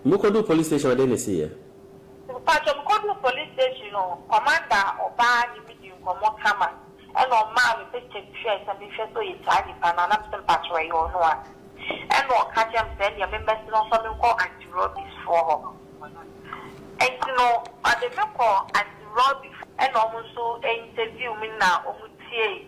Mo kɔ duu police station a dɛn na ɛsii ɛ? Mpakyɛ mo kɔ duu police station no commander a ɔbaa ne me dii nkɔmmɔ kama ɛna ɔmaa me picture bi hwɛɛ sɛ me nhwɛ sɛ ɔyɛ saa nipa no a na me sɛ mpakyɛw ɛyɛ ɔno a ɛna ɔka kyerɛɛ me sɛ ɛneɛ me mmɛse no nfa me nkɔ anti robbies foɔ hɔ nti no ɔde me kɔɔ anti robbies ɛna ɔmo nso interview me na ɔmo tiee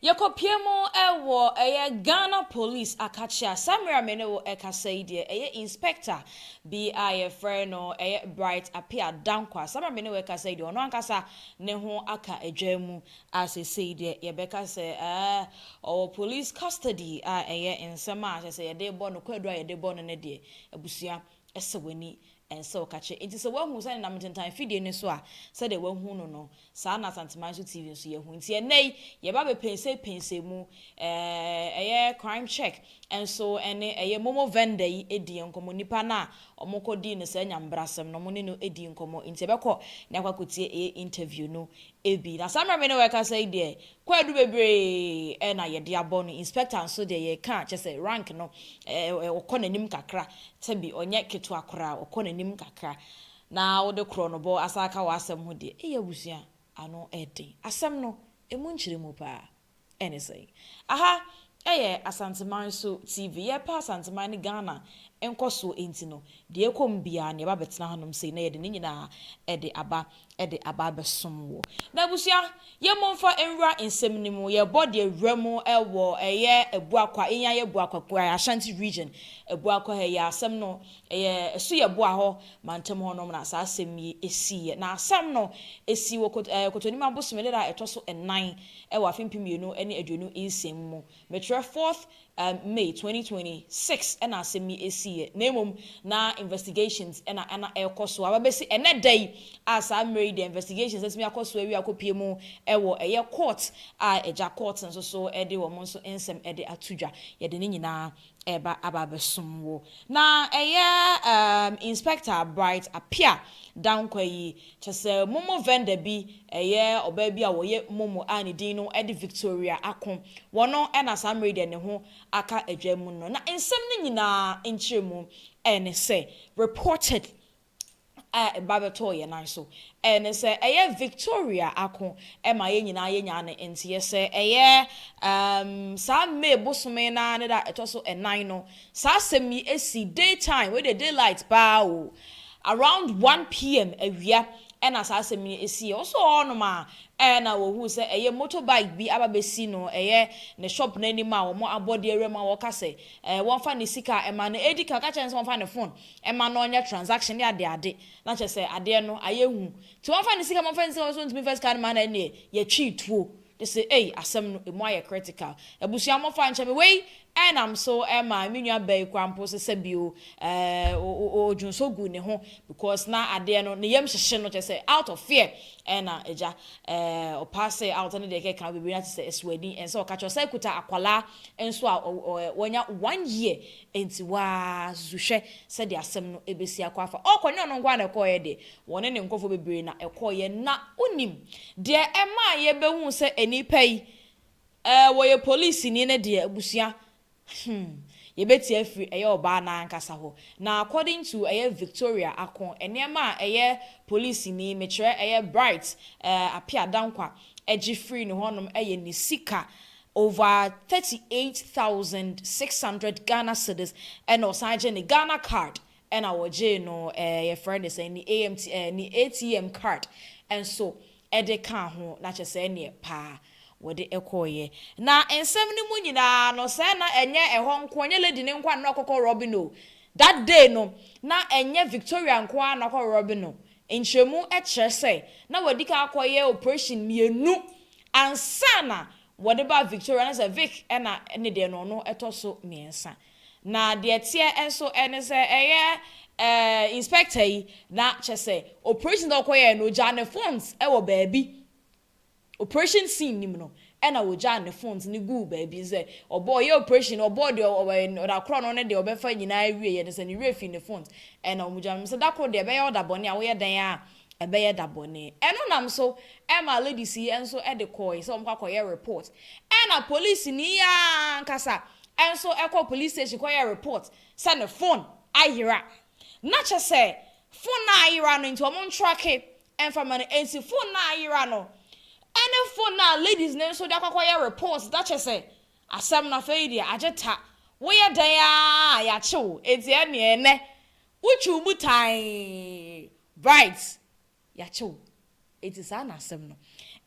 Yɛkɔpue mu wɔ ɛyɛ Ghana Police akakyea. Saa mmerɛ a me ne wo rekasa yi deɛ, ɛyɛ Inspector bi a yɛfrɛ no ɛyɛ Bright Appiah Dankwah. Saa mmerɛ a me ne wo rekasa yi deɛ, ɔno ankasa ne ho aka adwan mu a seesei deɛ yɛbɛka sɛ ɛɛ ɔwɔ Police custody a ɛyɛ nsɛm a kyerɛ sɛ yɛde rebɔ no, kwaadu a yɛde rebɔ no no deɛ, abusua Ɛsɛ w'ani nsɔ wo kakyɛ. Enti sɛ woahu sɛ nenam ntentan fidie no so a, sɛdeɛ woahu no no, saa ara na Asanteman so TV nso yɛahu. Enti ɛnnɛ yi, yɛba bɛpɛnsɛ pɛnsɛ mu, ɛyɛ crime check nso ne ɛyɛ momo vendor yi di nkɔmmɔ, nipa no a wɔkɔdii no saa nyambrasɛm no, wɔne no dii nkɔmmɔ. Enti yɛbɛkɔ na yɛakɔ akɔtie ɛyɛ interview no Ebi. Na saa mmerɛ me ne wo rekasa yi deɛ, kwaadu bebree na yɛde abɔ no. Inspector nso deɛ yɛreka a, kyerɛ sɛ rank no, ɛɛ, ɔkɔ n'anim kakra. Sɛ bi, ɔnyɛ ketewa koraa, ɔkɔ n'anim kakra. Na wode korɔnobɔ asan aka w'asɛm ho deɛ, ei abusua, ano yɛ den. Asɛm no, ɛmu nkyerɛ mu pa ara. Ɛne sɛn? Aha yɛ Asanteman so TV. Yɛrepɛ Asanteman ne Ghana nkɔsoɔ nti no, deɛ ɛrekɔ mu biara no, yɛba bɛtena hanom sei na yɛde ne nyinaa de aba de aba abɛsom wo. Na abusua, yɛn momfa nwura nsɛm no mu. Yɛrebɔ deɛ wura mu wɔ ɛyɛ Abuakwa, yɛn ara yɛ Abuakwa, Ashanti Region, Abuakwa ha yi, asɛm no Ɛyɛ ɛso yɛ boa hɔ mantam hɔ nom na saa asɛm yi siiɛ. Na asɛm no sii wɔ Kotonim abosome da a ɛtɔ so nnan wɔ afe mpem mmienu ne aduonu nsia mu mu. Mekyerɛ fourth May twenty twenty six na asɛm yi siiɛ, na mmom na investigations na na ɛrekɔ so aba bɛsi ɛnnɛ da yi a saa mmerɛ yi deɛ investigations atumi akɔ so awie akɔpue mu wɔ ɛyɛ court a agya court nso so de wɔn nso nsɛm de ato dwa. Yɛde ne nyinaa. Ɛreba aba abɛsom wo. Na ɛyɛ um Inspector Bright Apia Dankwa yi, kyɛ sɛ momo vendor bi, ɛyɛ ɔbaa bi a ɔyɛ momo a ne din no de Victoria Ako. Wɔno na saa mmerɛ yi deɛ ne ho aka adwa mu no. Na nsɛm no nyinaa nkyerɛmu ɛne sɛ, reported a ɛba bɛtɔɔ yɛn nan so. Ɛɛ, ne sɛ ɛyɛ Victoria ako ma yɛn nyinaa yɛnyaa no nteɛ sɛ ɛyɛ, um, saa May bosome no ara ne da a ɛtɔ so nnan no, saa asɛm yi si, day time, wei deɛ daylight paa o, around one PM awia na saa asɛm yi siiɛ. Wɔsɔɔ hɔnom a, ɛɛ na wɔhuu sɛ ɛyɛ motorbike bi aba bɛsi no, ɛyɛ ne shop no anim a wɔn abɔdeɛ wura mu a wɔka sɛ, ɛɛ, wɔmfa ne sika mma no. Ɛdi kan, wɔka kyerɛɛ no sɛ wɔmfa ne phone ɛma no ɔnyɛ transaction ne ade ade na kyerɛ sɛ adeɛ no ayɛ hu nti wɔmfa ne sika wɔmfa ne sika wɔsɛ wɔntumi mfa sika no ma no ɛneɛ yɛtwii tuo de se ei asɛm no ɛmu ayɛ critical abusua mofa nkyɛ me wei ɛnam so ɛma me nua baa yi koraa mpo se sɛbi o ɛɛ odwonsɔ guu ne ho because na adeɛ no ne yam hyehye no kyerɛ sɛ out of fear ɛna agya ɛɛ ɔpaa se out ne deɛ ɛkeka ho bebree na kyerɛ sɛ ɛsoadi ɛnsɛ ɔka kyerɛ ɔsan kuta akwadaa nso a ɔwɔ ɛɛ wɔnya one year Enti woaa susu hwɛ sɛdeɛ asɛm no bɛsi akɔ afa. Ɔɔkɔ, ɛnyɛ ɔno nko ara na ɛkɔeɛ deɛ, wɔne ne nkurɔfoɔ bebree na ɛkɔeɛ. Na wonim deɛ ɛmaa yɛbɛhuu sɛ nnipa yi, ɛɛ, wɔyɛ polisini no deɛ, abusua? Hmm, yɛbɛtie afiri ɛyɛ ɔbaa no ankasa hɔ. Na according to ɛyɛ Victoria Ako, nneɛma a ɛyɛ polisini, mekyerɛ ɛyɛ Bright, ɛɛ, Appiah Dankwa, gye firii ne hɔnom yɛ ne sika Over thirty eight thousand six hundred Ghana cedis ɛna ɔsan gye ne Ghana card ɛna ɔgyee no ɛɛ yɛfrɛ no sɛn ne AMT ɛɛ ne ATM card nso ɛde kaa ho na kyɛ sɛ ɛneɛ paa wɔde ɛkɔɔyɛ na nsɛm no mu nyinaa no sɛ na ɛnyɛ ɛhɔ nko ɛnyɛ lady no nko ara na ɔkɔkɔ robbing o that day no na ɛnyɛ Victoria nko ara na ɔkɔ robbing no nkyerɛmu ɛkyerɛ sɛ na wadikan akɔyɛ operation mmienu Ansa na wɔde ba Victoria no sɛ Vic na ne deɛ no ɔno ɛtɔ so mmiɛnsa. Na deɛ ɛteɛ nso ne sɛ ɛyɛ inspector yi na kyɛ sɛ operations a ɔkɔ yɛɛ no ɔgyaa ne phones wɔ baabi operation scene no mu no ɛna ɔgyaa ne phones no guu baabi sɛ ɔbɔ ɔyɛ operation no ɔbɔɔ deɛ ɔwɔ da korɔ no ne deɛ ɔbɛfa nyinaa awieɛ no sɛ ne werɛ fii ne phones ɛna wɔn gyaa no sɛ da koro deɛ ɛbɛyɛ ɔda bɔne a woyɛ dɛn a Ɛbɛyɛ da bɔne. Ɛno nam so ma ladies yi nso de kɔɔe sɛ wɔn kɔ akɔyɛ report. Ɛna polisini yi ara ankasa nso kɔɔ police station kɔyɛɛ report sɛ ne phone ayera. Na kyɛ sɛ phone no a ayera no nti wɔn ntracke mfa ma no. Nti phone no a ayera no ne phone no a ladies no nso de akɔ akɔyɛ report na kyɛ sɛ asɛm no afei deɛ agye ta. Woyɛ dɛn ara a yɛakye wo. Nti ɛneɛ ɛnɛ Wotwiw mu tann. Bright, Yɛakyɛ wo. Enti saa na asɛm no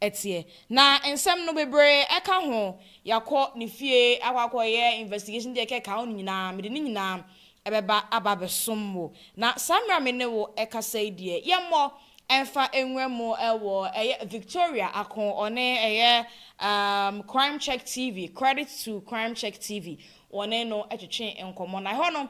teɛ. Na nsɛm no bebree ɛka ho. Yɛakɔ ne fie akɔ akɔyɛ investigation deɛ ɛka ɛka ho no nyinaa, mede ne nyinaa ɛbɛba aba abɛsom wo. Na saa mmerɛ a me ne wo ɛkasa yi deɛ, yɛmmɔ ɛmfa nwura mu ɛwɔ ɛyɛ Victoria ako ɔne ɛyɛ um Crime Check TV, Credit to Crime Check TV, wɔne no ɛtwetwee nkɔmmɔ. Na ɛhɔ no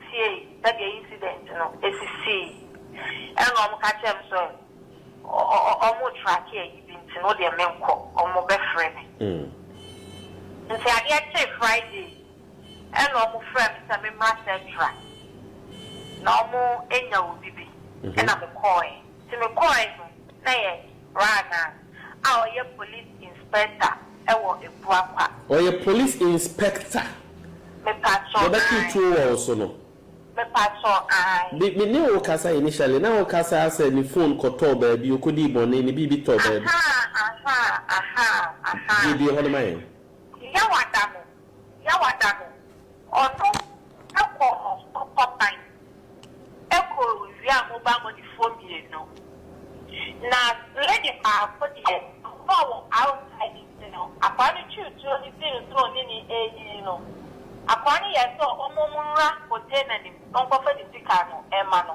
tsiei sɛdeɛ incident no esisii ɛna ɔmo ka kyerɛɛ me sɛ ɔmo tracke ayi bi nti no deɛ menkɔ ɔmo bɛfrɛ me nti adeɛ kyee Friday ɛna ɔmo frɛɛ me sɛ memmra Centra na ɔmo anya obi bi ɛna mekɔɔɛ nti mekɔɔɛ no na yɛ Brana, a ɔyɛ Police Inspector wɔ Abuakwa. Ɔyɛ Police Inspector. Mepatsɔ ae. Yɛbɛtwe tuo wɔ wo so no. Mepatsɔ ae. Me me ne wo kasa initially na wo kasa sɛ ne phone kɔtɔɔ baabi, ɔkɔdii bɔne, ne biribi tɔɔ baabi. Ahaa, ahaa, ahaa, ahaa. Bue bue hɔ no ma yɛn. Yawada no. Yawada no, ɔno kɔ ɔko kɔtan ko wia mobaa mɔdifoɔ mmienu. Na lady baako deɛ ɔkɔɔ wɔ outside nti no akwaa no twii tuo no sii no so ɔne no ɛɛdidi no, akwaa no yɛɛ sɛ ɔmom nwura container no mu ɔnkɔfa ne sika no ɛma no.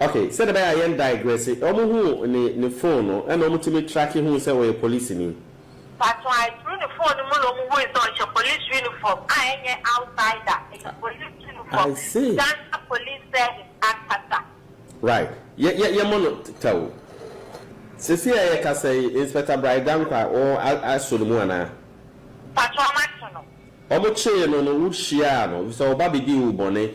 Ok, sɛdeɛ ɛbɛyɛ a yɛn digresse, wɔn huu ne ne phone no ɛna wɔn tumi tracke huu sɛ ɔyɛ polisini. That's why through ne phone no mu na wɔn hui sɛ ɔhyɛ police uniform a ɛnyɛ outsider, ɛyɛ police uniform, I see. Ghana police service ankasa. Right, yɛ yɛ yɛmmɔ no tɛw. Seesei a yɛkasa yi, Inspector Brae Dankwa wɔn a aso ne mu anaa? Mpakyɛ wɔn ato no. Wɔn kyee no no wo hyiaa no, efisɛ ɔba bɛdii wo bɔne,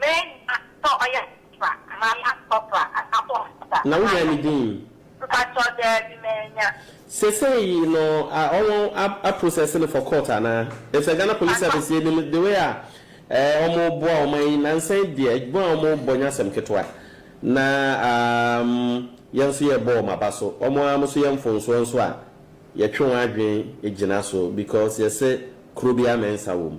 Menya sɛ ɔyɛ corporal anaa lance corporal anaa so officer. Na wonya ne din? Mpakyɛw daabi manya. Sesei no ɔmo a process no for court anaa? Efisɛ Ghana police service yɛ nim the way a ɛɛ ɔmo boa ɔman yi nansa yi deɛ adwuma a ɔmo bɔ nyɛ asɛm ketewa na amm yɛn nso yɛ bɔ ɔmo aba so ɔmo a ɔmo so yɛ mfonsoɔ nso a yɛtwe wɔn adwene gyina so because yɛse kuro biara mɛnsa wɔ mu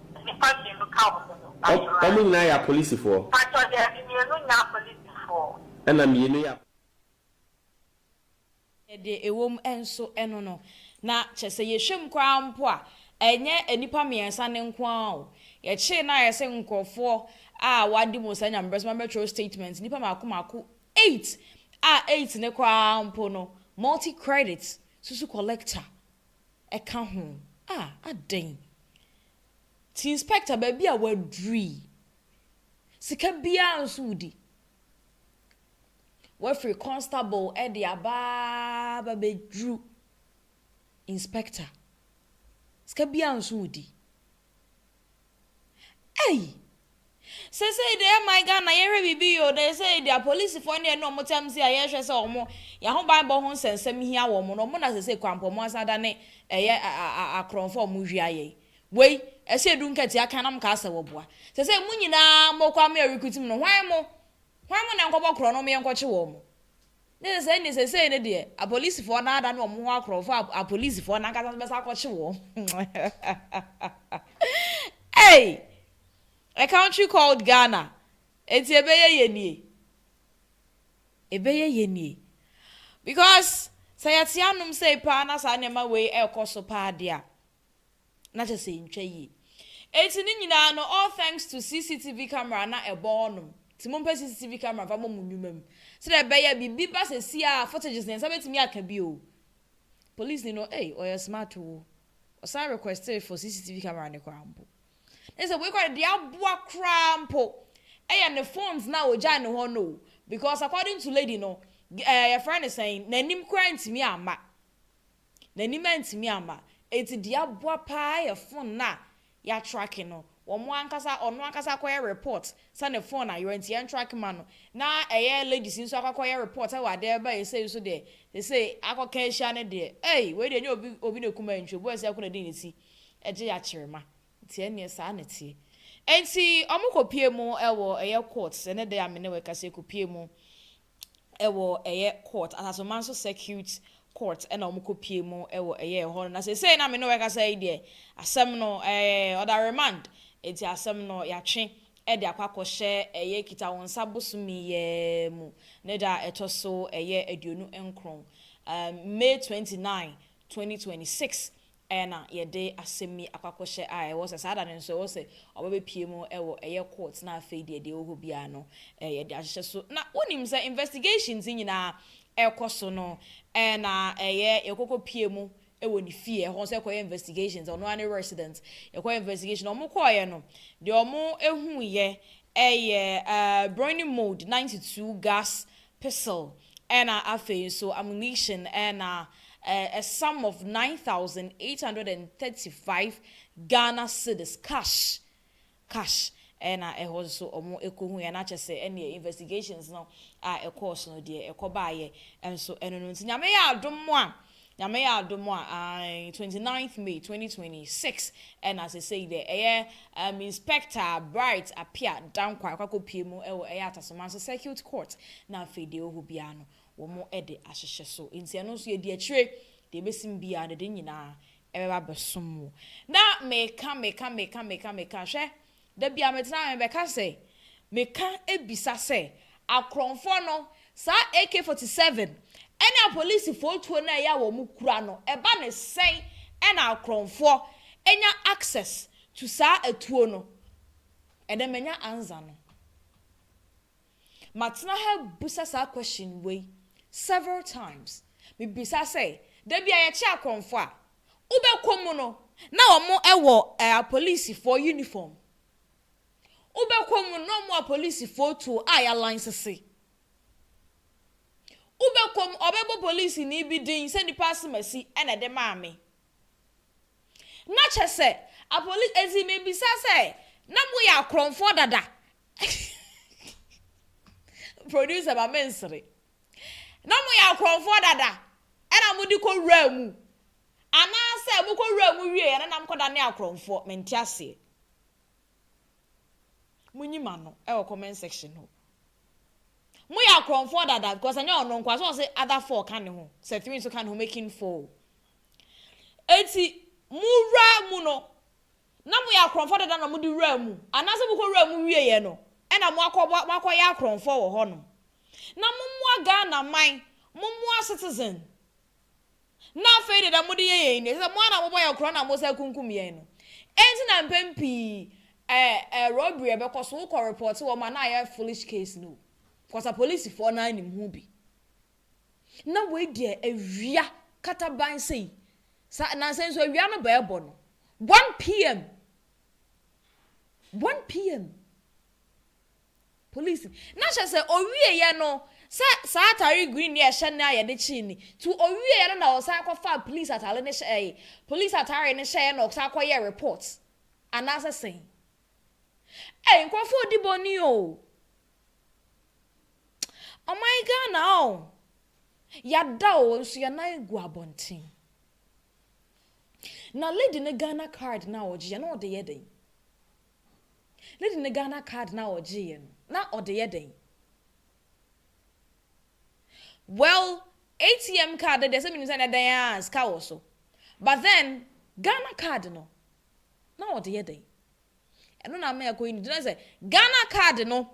Nnipa mmienu ka wo ho no, pakyɛ why? Ɔmo nyinaa yɛ apolisifoɔ. Pakyɛ daabi mmienu nyɛ apolisifoɔ. Ɛna mmienu yɛ. Deɛ ɛwɔ mu nso no no, na kyerɛ sɛ yɛhwɛ mu koraa mpo a, ɛnyɛ nnipa mmiɛnsa no nko ara o. Yɛkyee no a ayɛ sɛ nkorɔfoɔ a wɔadi mu saa nyamebrɛ so ma bɛtwerɛ statement, nnipa mmaako mmaako eight a eight no koraa mpo no, multi credit susu collector. ɛka ho a, adɛn? Ti inspector baabi a woaduru yi, sika biara nso wodi. Woafiri constable de aba aba bɛduru inspector, sika biara nso wodi. Ei! Sesei deɛ eh my Ghana yɛhwɛ biribi yie o, na sesei deɛ apolisifoɔ no deɛ ne wɔn tam sei a yɛhwɛ sɛ wɔn yɛahobanbɔ ho nsɛnsɛm hia wɔn no, wɔn na sesei kwampɔ wɔn asan adane ɛyɛ akorɔmfoɔ a wɔhwia yɛn wei, ɛsɛ yɛdu nkatia kan na wɔkaa sɛ wɔboa. Sesei mo nyinaa mokɔ a mo yɛ recruit mu no hwan mo? Hwan mo na nkɔbɔ korɔ no wɔn yɛnkɔkye wɔn? Ne sɛ sɛnneɛ seesei no deɛ apolisifoɔ no adane wɔn ho akorɔmfo a apolisifoɔ no ankasa nso bɛsan akɔkye wɔn. Ei! A country called Ghana. Enti ɛbɛyɛ yie nie. Ɛbɛyɛ yie nie. Because sɛ yɛte anom sei paa na saa nneɛma wei rekɔ so paa deɛ a, na kyerɛ sɛ ɛntwa yie. Enti ne nyinaa no all thanks to CCTV camera na ɛbɔ hɔ nom. Nti mompɛ CCTV camera mfa mmɔ mo nnwuma mu. Sɛdeɛ ɛbɛyɛ biribi ba sɛsi a footages no yɛn nsa bɛtumi aka bi o. Police ni no ei ɔyɛ smart o. Ɔsan requested for CCTV camera no koraa mpo. Na sɛ wei koraa deɛ aboa koraa mpo ɛyɛ ne phones no a ɔgyae no hɔ no o. Because according to lady no, eh, yɛfrɛ no sɛn, n'anim koraa ntumi amma. N'anim antumi amma. Enti deɛ aboa pa ara yɛ fon no a yɛatrake no. Wɔn ankasa, ɔno ankasa akɔyɛ report sɛ ne fon ayera nti yɛntrake ma no. Na ɛyɛ ladies nso akɔ akɔyɛ report wɔ adeɛ reba yɛ sei nso deɛ, seesei akɔka ahyia no deɛ, ei, wei deɛ ɛnyɛ obi obi na kum antwi, obi a ɔsɛ kora de ne ti gye akyerema. Nti ɛnneɛ saa na ɛteɛ. Enti wɔkɔpue mu wɔ ɛyɛ court, ɛnɛ da yi a me ne wo rekasa yi, ɛkɔpue mu wɔ ɛyɛ court asasoman so circuit court ɛna wɔn kɔ pie mu wɔ ɛyɛ ɛhɔ no na sese na me ne wɔkasa yi deɛ asɛm no ɛɛ ɔda remand eti asɛm no yatwe ɛde akɔ akɔhyɛ ɛyɛ kita wɔn nsa bosomi yɛ mu ne da ɛtɔ so ɛyɛ aduonu nkron ɛɛ may twenty nine twenty twenty six Ɛyɛ na yɛde asɛm yi akɔ akɔhyɛ a ɛwɔ sɛ saa da no nso ɛwɔ sɛ ɔba bɛpue mu wɔ ɛyɛ court na afei deɛ deɛ ɛwɔ hɔ biara no yɛde ahyehyɛ so. Na wonim sɛ investigations yi nyinaa ɛkɔ so no ɛyɛ na ɛyɛ yɛkɔkɔ pue mu wɔ ne fie ɛhɔ nso ɛkɔyɛ investigations ɔno ara ne resident yɛkɔyɛ investigation na wɔn kɔɔeɛ no deɛ wɔn ɛhuuiɛ ɛyɛ ɛɛ burning mold ninety two gas pistol ɛna afei nso ammunition ɛna a sum of nine thousand eight hundred and thirty five Ghana cedis cash cash ɛna ɛhɔ nso ɔmo ɛkɔhuiɛ na kyɛsɛ ɛneɛ investigations no a ɛkɔɔso no deɛ ɛkɔbaayɛ nso ɛno no nti Nyame yɛ adom mo a Nyame yɛ adom a ae twenty ninth May twenty twenty six ɛna sesei dɛ ɛyɛ um Inspector Bright Appiah Dankwah ɛkɔakɔ pue mu ɛwɔ ɛyɛ Atasoman so Circuit Court na afei deɛ ɛwɔhɔ biaa no wɔn ɛde ahyehyɛ so nti ɛno nso yɛdi akyire deɛ ɛbɛsim biaa no de ne nyinaa ɛbɛba abɛsom wo na meka meka meka meka meka hwɛ Da bi a metena ha mebɛka sɛ meka bisa sɛ akorɔnfoɔ no saa AK 47 ɛne apolisifoɔ tuo no a ɛyɛ a wɔn kura no ɛba ne sɛn ɛna akorɔnfoɔ nya access to saa atuo no ɛnɛ manya ansa no. Matena ha bisa saa question wei several times. Mebisa sɛ, da bi a yɛkye akorɔmfo a, wobɛkɔ mu no, na wɔn wɔ eh, apolisifoɔ uniform? Wobɛkɔ mu no, na wɔn wɔ apolisifoɔ tuo a yɛalansese? Wobɛkɔ mu, wɔbɛbɔ polisini bi din sɛ nipa asemasi na ɛde maa me? Na kyɛ sɛ apolis enti mebisa sɛ na moyɛ akorɔmfoɔ dada producer ma mensere na moyɛ akorɔmfoɔ dada ɛna mode kɔ wuraa mu anaasɛ mokɔ wuraa mu wieɛ na nam kɔda ne akorɔmfoɔ mente aseɛ monyi ma no ɛwɔ comment section hɔ moyɛ akorɔmfoɔ dada because ɛnyɛ ɔno nkoa so ɔse other four ka ne ho sɛ three nso ka ne ho making four Enti mowura mu no, na moyɛ akorɔmfoɔ dada na mode wuraa mu? Anaasɛ mokɔwuraa mu wieeɛ no, ɛna moakɔbɔ, moakɔyɛ akorɔmfoɔ wɔ hɔ nom? Na mommoa Ghana man, mommoa Citizen. Na afei deɛ deɛ mode yɛ yɛn no, ɛsɛ sɛ mo ara na mobɔ yɛn korɔn na mosan kunkum yɛn no. Enti na mpɛn pii ɛɛ ɛɛ robbery a ɛbɛkɔ so, wokɔ report wɔn a na ayɛ foolish case no o, because apolisifoɔ no ara nim ho bi. na wei deɛ awia kataban sei sa nansa nso awia no bɛɛbɔ no 1pm 1pm police na hyɛ sɛ owieɛ no sɛ saa atare green ne ɛhyɛ no a yɛde kyee ni to owieɛ no na ɔsan kɔfa police atare no hyɛ ɛyɛ police atare no hyɛɛ na ɔsan kɔyɛ report anaasɛ sɛn ɛy nkurɔfoɔ di bɔne o Ɔman Ghana o, yɛada o, nso yɛn nan gu abɔnten. Na lady no Ghana card no a ɔgyeeɛ na ɔde yɛ dɛn? Lady no Ghana card no a ɔgyeeɛ no, na ɔde yɛ dɛn? Well, ATM card no deɛ sɛ menim sɛ na dɛn a sika wɔ so. But then, Ghana card no, na ɔde yɛ dɛn? Ɛno na ama yɛakɔ uni. Gyina sɛ Ghana card no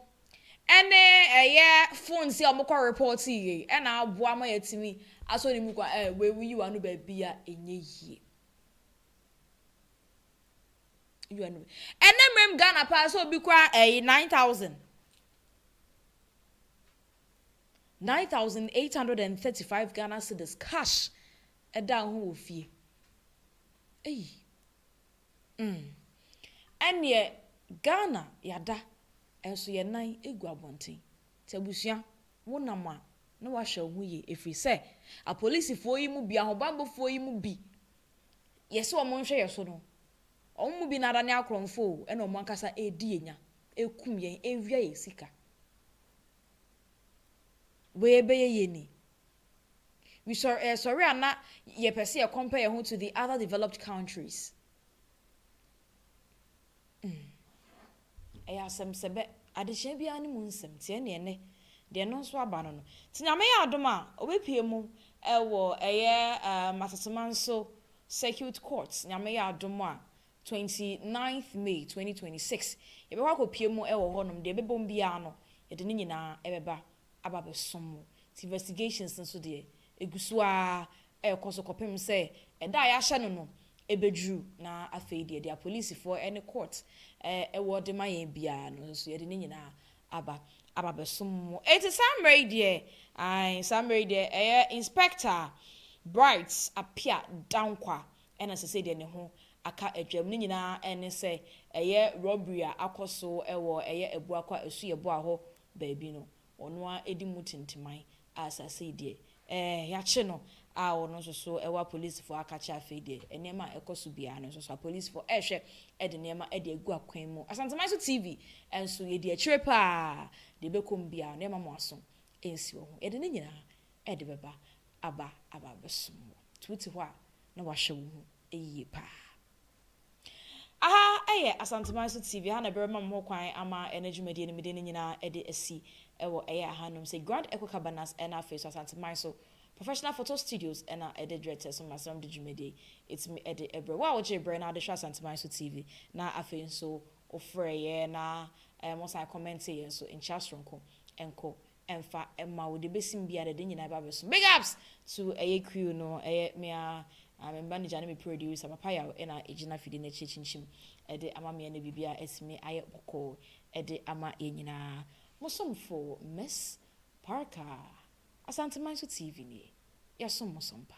ɛne ɛyɛ phone si a wɔn kɔ report yie ɛna aboa ama yɛatumi asɔ ne mu kwan ɛ wei wo yi w'ano baabi a ɛnyɛ yie. Yi w'ano baabi. Ɛnɛ mmerɛm Ghana paa sɛ obi kura ɛyi nine thousand. Nine thousand eight hundred and thirty five Ghana cedis cash ɛda ho wɔ fie. Eyi. Mm. Ɛneɛ Ghana yɛada nso yɛn nan gu abɔnten. Nti abusua, wonam a na wahwɛ wo ho yie ɛfiri sɛ apolisifoɔ yi mu bi, ahobanbɔfoɔ yi mu bi, yɛse wɔn nhwɛ yɛn so no, wɔn mu bi no adane akorɔmfoɔ o, ɛna wɔn ankasa ɛredi yɛn nya, ɛkum yɛn, ɛwia yɛn sika. Wei ɛbɛyɛ yie ni? We sɔre eh sɔre a na yɛ pɛ sɛ yɛ compare yɛ ho to the other developed countries. Mm. Ɛyɛ asɛm sɛ bɛ, adekyea biara ne mu nsɛm, tiɛ neɛ nɛ, deɛ ɛno nso aba no no. Ti nyame yɛ adom a, ɔbɛpie mu ɛwɔ ɛyɛ um, Asasemanso Circuit Court, nyame yɛ adom a, 29th May 2026, yɛbɛkɔ akɔpie mu ɛwɔ hɔnom, deɛ ɛbɛbom biara no, yɛde ne nyinaa ɛbɛba aba abɛsom wo. Nti investigations no so deɛ, ɛgu so ara rekɔ so kɔpem sɛ ɛda a yɛahyɛ no no bɛduru, na afei deɛ deɛ apolisifoɔ ne court wɔ de ma yɛn biara no nso yɛde ne nyinaa aba aba abɛsom mo. Nti saa mmerɛ yi deɛ, ae, saa mmerɛ yi deɛ, ɛyɛ Inspector Bright Appiah Dankwa na seesei deɛ ne ho aka adwam. Ne nyinaa ne sɛ ɛyɛ robbery a akɔ so wɔ ɛyɛ Abuakwa Asuyɛboa hɔ baabi no, ɔno ara adi mu tintiman a asase yi deɛ, ɛɛ, yɛakye no, a ɔno nso so ɛwɔ apolisifoɔ aka kyerɛ afei deɛ, nneɛma a ɛkɔ so biara no nso so apolisifoɔ rehwɛ de nneɛma de agu akwan mu. Asanteman so TV nso, yɛdi akyire pa ara, deɛ ɛbɛkɔ mu biara no, yɛremma mo aso nsi wɔ ho. Yɛde ne nyinaa de bɛba aba aba abɛsom wo. Nti wote hɔ a, na wahwɛ wo ho yie pa ara. Aha yɛ Asanteman so TV, ɛha na ɛbɛma mo ho kwan ama ɛno dwumadie no mede no nyinaa de asi wɔ ɛyɛ ahanom sɛ Grand Echo Cabanas ɛna afei so Asanteman so Professional Photo Studios ɛna ɛde dwɛtɛ so ma sɛ wɔde dwumadie yi ɛtumi ɛde ɛbrɛ wo a wogyee brɛ na adehwɛ Asanteman so TV na afei nso wofrɛ yɛ na ɛɛ mo san kɔmɛnte yɛ nso nkyia soronko ɛnko ɛnfa ɛma wo deɛ ɛbɛsim biara deɛ de nyinaa ɛba bɛso big ups to ɛyɛ crew no ɛyɛ me a ah, me manager ne me producer papa yaw ɛna ɛgyina fidie no akyi akyinkyim ɛde ama me ɛna biribi a ɛtumi ayɛ bɔkɔɔ ɛde ama yɛn nyinaa mo somfo miss parker asanteman so tv nie yɛsom mo sompa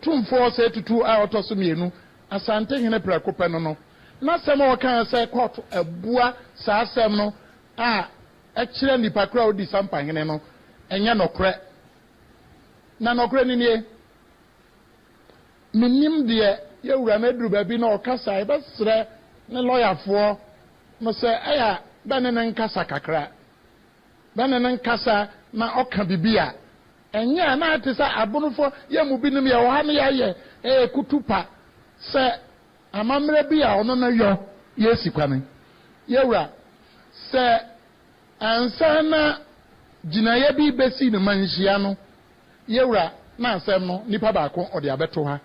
Tumfoɔ Osei Tutu a ɔtɔ so mmienu, Asantehene prɛko pɛ no no, n'asɛm a ɔkaeɛ sɛ court abua saa asɛm no a ɛkyerɛ nnipa korɔ a ɔdi Sampahene no, ɛnyɛ nɔkorɛ. Na nɔkorɛ no nie, mennim deɛ yɛwura no aduru baabi na ɔkasa a, yɛbɛsrɛ ne lɔyafoɔ no sɛ ɛyɛ a bɛne no nkasa kakra. Bɛne no nkasa na ɔka bibi a, ɛnyɛ a na ayɛ te sɛ abonofoɔ, yɛn mu binom yɛwɔ ha na yɛayɛ ɛyɛ kutupa sɛ amammerɛ bi a ɔno no yɔ yɛsi kwane. Yɛwura, sɛ Ansa na gyinaeɛ bi bɛsi no ma nhyia no, yɛwura na asɛm no nipa baako ɔde abɛto ha.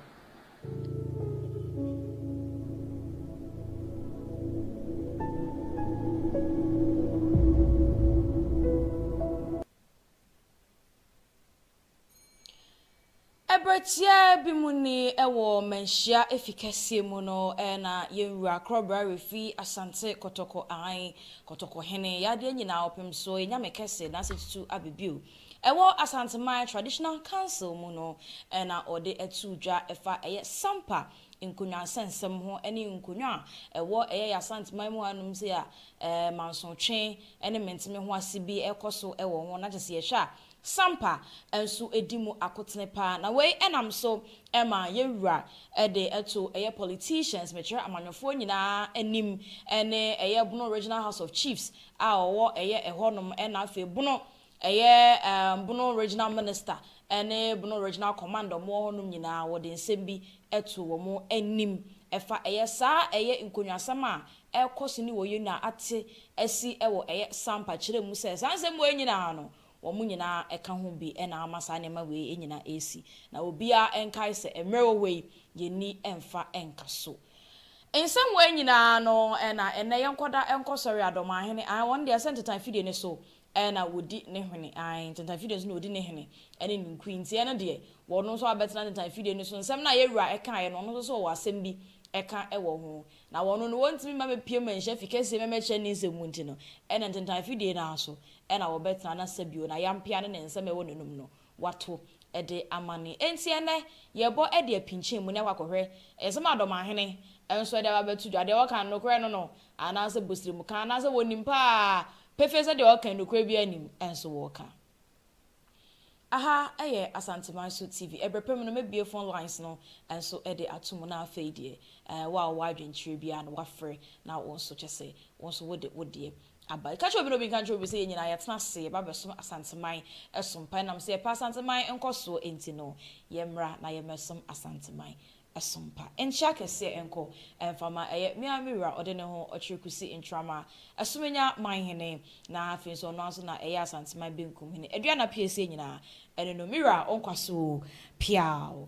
Ɛberɛ tiaa bi mu ni wɔ Manhyia Efi kɛseɛ mu no na yɛn Wura Krɔbra Refi Asante Kɔtɔkɔ I, Kɔtɔkɔ Hene, Yadeɛ Nyinaa Ɔpemsoɔ, Enyame Kɛse, N'asetutu aba bio. Ɛwɔ Asanteman Traditional Council mu no na ɔde atuu dwa ɛfa ɛyɛ Sampa nkonwansɛnsɛm ho ɛne nkonwa a ɛwɔ ɛyɛ yɛ Asanteman mu hanom sei a mansotwe ɛne mentemehoase bi ɛkɔso ɛwɔ ho na kyɛsɛ yɛhwɛ a Sampa nso edi mu akotene paa na wei nam so ma yɛn wura de to ɛyɛ politicians, mekyerɛ amanyɔfoɔ nyinaa anim ne ɛyɛ Bono Regional House of Chiefs a ɔwɔ ɛyɛ ɛhɔ nom na afei Bono ɛyɛ Bono Regional Minister ne Bono Regional Command a wɔwɔ hɔ nom nyinaa wɔde nsɛm bi to wɔn anim ɛfa ɛyɛ saa ɛyɛ nkonwasɛm a ɛrekɔ so ne wɔ yɛn nua ate asi wɔ ɛyɛ Sampa kyerɛ mu sɛ saa nsɛm wei nyinaa no Wɔn nyinaa ka ho bi na ama saa nneɛma wei nyinaa asi. Na obiara nkae sɛ mmerɛ wɔ hɔ yi, yɛnni mfa nka so. Nsɛm wei nyinaa no na ɛnnɛ yɛnkɔda nkɔsɔre adɔmahene, aane, wɔn deɛ sɛ ntentan fidie no so na wɔdi ne hene, aane, ntentan fidie no so na wɔdi ne hene ne ne nkuyi, nti ɛno deɛ wɔn nso abɛtena ntentan fidie no so. Nsɛm no a yɛn wura kaeɛ no, ɔno nso so ɔwɔ asɛm bi ɛka wɔ ho. Na wɔno no wɔntumi mma mepue manhyia fi kɛseɛ me mɛkyerɛ ne nsɛm mu nti no, ɛna ntentan fidie no ara so na wɔbɛtena na sɛ bio na yampea ne ne nsɛm ɛwɔ n'anom no wato de amane. Enti ɛnnɛ yɛbɔ de apinkyɛn mu ne akɔ akɔhwɛ nsɛm a Dɔmahene nso de aba abɛto dwa, deɛ ɔka no nokorɛ no no anaasɛ bosrɛmu ka, anaasɛ wɔnim paa pefee sɛ deɛ ɔka nokorɛ biara nnim nso wɔka. Aha yɛ Asanteman so TV. Ɛberɛ pa mu no mɛbue phone lines no nso de ato mu na afei deɛ ɛɛ wo a wowɔ adwenkyerɛ biara no wafrɛ na wo nso kyɛ sɛ wo nso wode wo deɛ aba. Ka kyerɛ obi na obi nka nkyerɛ obi sɛ yɛn nyinaa yɛatena ase yɛba abɛsom Asanteman so mpa. Ɛnam sɛ yɛpɛ Asanteman nkɔsoɔ nti no yɛmmra na yɛmmɛsom Asanteman Asompa nkyɛ akɛseɛ nkɔ ɛmfa ma ɛyɛ me ara me wura ɔde ne ho ɔkyere Kusi Ntrama Asumenya Manhene na afei nso ɔno ara nso na ɛyɛ Asanteman Benkum Hene Aduana Piesie nyinaa ɛno no me wura wo nkwa so oo piaaww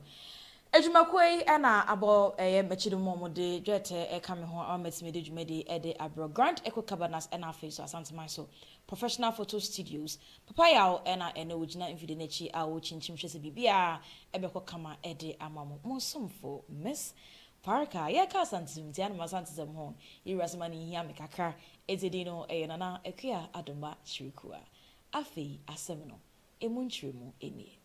Adwumakuo yi na abɔ ɛyɛ m'akyi no mu wɔde dwɛɛtɛ ɛka me ho ama matumi de dwumadie yi de abrɛ wo Grand Echo Cabanas ɛna afei nso Asanteman so Professional Photo Studios Papa Yaw na ɛnnɛ wogyina mfidi no akyi a wokyinkyim hwɛ sɛ biribiara bɛkɔ kama de ama mo. Mo somfo, Miss. Parker. Yɛreka Asantesom nti, anom Asantesom ho yɛwurasɛm ano hia me kakra, enti din no yɛ Nana Akua Adomba Kyirikua. Afei asɛm no, emu nkyerɛmu nie.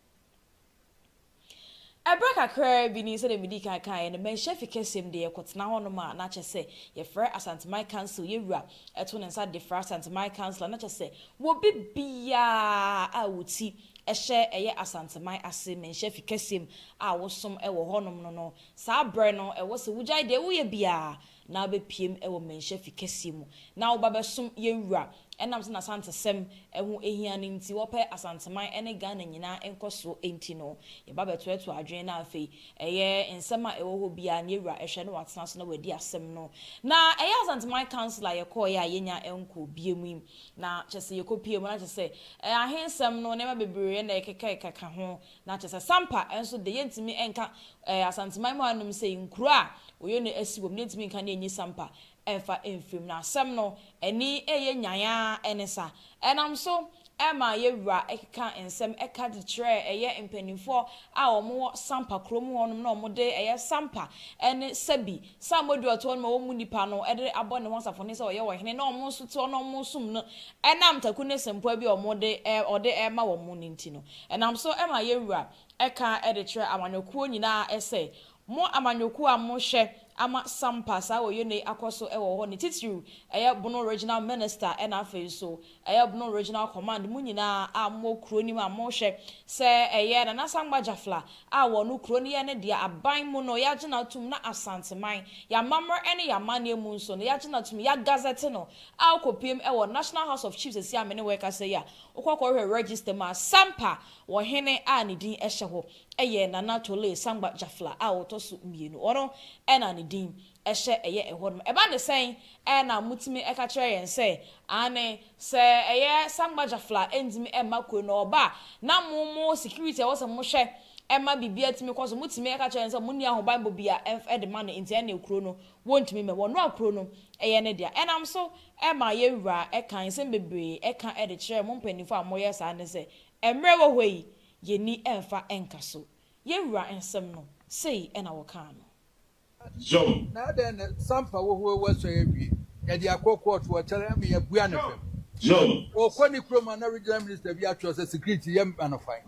Bere kakraa bi ni, sɛnea midii kan kae no, manhyia fikasɛm de yɛkɔtena hɔnom a na kyerɛ sɛ yɛfrɛ Asanteman Council, yɛn wura to ne nsa de frɛ Asanteman Council a na kyerɛ sɛ wɔ bi biara a wo ti hyɛ ɛyɛ Asanteman ase, manhyia fikasɛm a wosom wɔ hɔnom no no saa bere no, ɛwɔ sɛ wogyae deɛ woyɛ biara na abɛpuem wɔ mmɛnhyɛ fi kɛseɛ mu na woba bɛsom yɛn wura. Ɛnam sɛ n'Asantesɛm ho hia no nti, wɔpɛ Asanteman ne Ghana nyinaa nkɔsoɔ nti no, yɛba bɛtoatoa adwene na afei ɛyɛ nsɛm a ɛwɔ hɔ biara no yɛn wura hwɛ na watena so na wadi asɛm no. Na ɛyɛ Asanteman Council a yɛkɔeɛ a yɛnnya nkɔɔ biam yi, na kyerɛ sɛ yɛkɔpuee mu na kyerɛ sɛ ahensɛm no nneɛma bebree na ɛkeka keka ho Na kyɛsɛ Sampa nso de yɛntumi nka ɛɛ Asanteman mu ha nom sɛ nkuro a wɔyɛ no asi wɔ mu no yɛntumi nka ne ɛnyi Sampa ɛnfa ɛnfiri mu. Na asɛm no ɛni ɛyɛ nyan ara ɛne sa. Ɛnam so ɛma yɛ wura ɛkeka nsɛm ɛka de kyerɛ ɛyɛ mpaninfoɔ a wɔn wɔ Sampa kuro mu hɔ nom na wɔn de ɛyɛ Sampa ɛne sa bi Saa modeɔtoɔ no ma wɔn mu nipa no de abɔ ne ho asafoni sɛ ɔyɛ wɔn hene na wɔn nso te hɔ na wɔresom no ɛnam taku ne sempoa bi a wɔn de ɔde rema wɔn no nti no. Ɛnam so ma yɛn Wura ka de kyerɛ amanyɔkuo nyinaa sɛ, Mo amanyɔkuo a mo hwɛ ama Sampa saa Oyono yi akɔ so wɔ hɔ no titiriw yɛ Bono Regional Minister ɛna afei nso Ɛyɛ Bono Regional Command mo nyinaa a mowɔ kuro no mu a mohwɛ sɛ ɛyɛ Nana Sankpa Jafla a wɔ no kuro no yɛ ne dea aban mu no yagye no atom na Asanteman, y'amammerɛ ne y'amanneɛ mu nso no yagye no atom y'agazɛte no a wokɔpiem wɔ National House of Chiefs sɛsi a me ne wo rekasa yi a wokɔ kɔhwɛ register mu a Sampa wɔ hene a ne din hyɛ hɔ yɛ Nana Tole Sankpa Jafla a ɔtɔ so mmienu ɔno na ne din ɛhyɛ ɛyɛ ɛhɔ nom. Ɛba ne sɛn? Ɛɛ na motumi ɛka kyerɛ yɛn sɛ, aane, sɛ ɛyɛ Sangba Jafla ɛntumi ɛmma kuro no ɔba a, na mo mo security a ɛwɔ sɛ mo hwɛ ɛma biribiara tumi kɔ so, motumi ɛka kyerɛ yɛn sɛ monni ahobanbɔ bi a ɛmf ɛde ma no, nti ɛnneɛ kuro no wɔntumi mmɛ, wɔnoa kuro no ɛyɛ ne dea. Ɛnam so ɛma yɛn wura ɛka nsɛm bebree ɛka ɛde kyerɛ mo mpaninfoɔ a moyɛ saa ne sɛ, ɛmmerɛ wɔ hɔ yi, yɛnni ɛmfa ɛnka so. Yɛn wura nsɛm no, sei ɛna wɔkaa no. Zom. Na adɛn na sampa wɔ hɔ wɔ sɔe awie? Yɛde akɔ kɔɔto wɔ kyɛrɛ ama yɛabua no fam. Zom. Ɔkɔ ne kurom a na regional minister bi atwerɛ sɛ security yɛ ma no fan.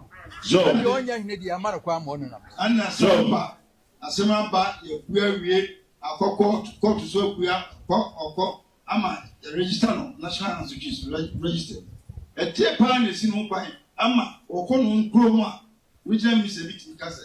Zom. Na deɛ ɔnyɛ hene deɛ ama no kwan ma ɔnenam so. Ɛna sampa asɛm aba yɛabua awie akɔ kɔɔto, kɔɔto nso abua kɔ ɔkɔ ama yɛ register no national ansuchies register mu. Ɛteɛ paa na ɛsi ne ho kwan ama ɔkɔ ne ho kurom a regional minister bi tumi ka sɛ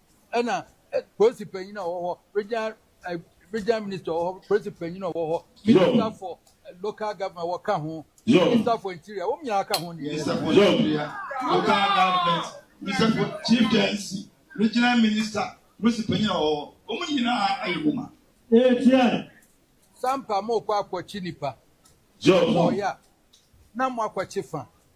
ɛna ɛ- polisi panyin a ɔwɔ hɔ regional ɛ, regional minister ɔwɔ hɔ polisi panyin a ɔwɔ hɔ minister for ɛ, local government wɔka ho minister for interior wɔn nyinaa ka ho deɛ ɛsɛ Minister for Interior, Local Government, Minister for Chieftaincy, Regional Minister, Polisi panyin a ɔwɔ hɔ, wɔn nyinaa ayɛ mu ma. Etia. sampa mo kɔ akɔkye nipa Job. mo kɔɔyɛ a na mo akɔkye fa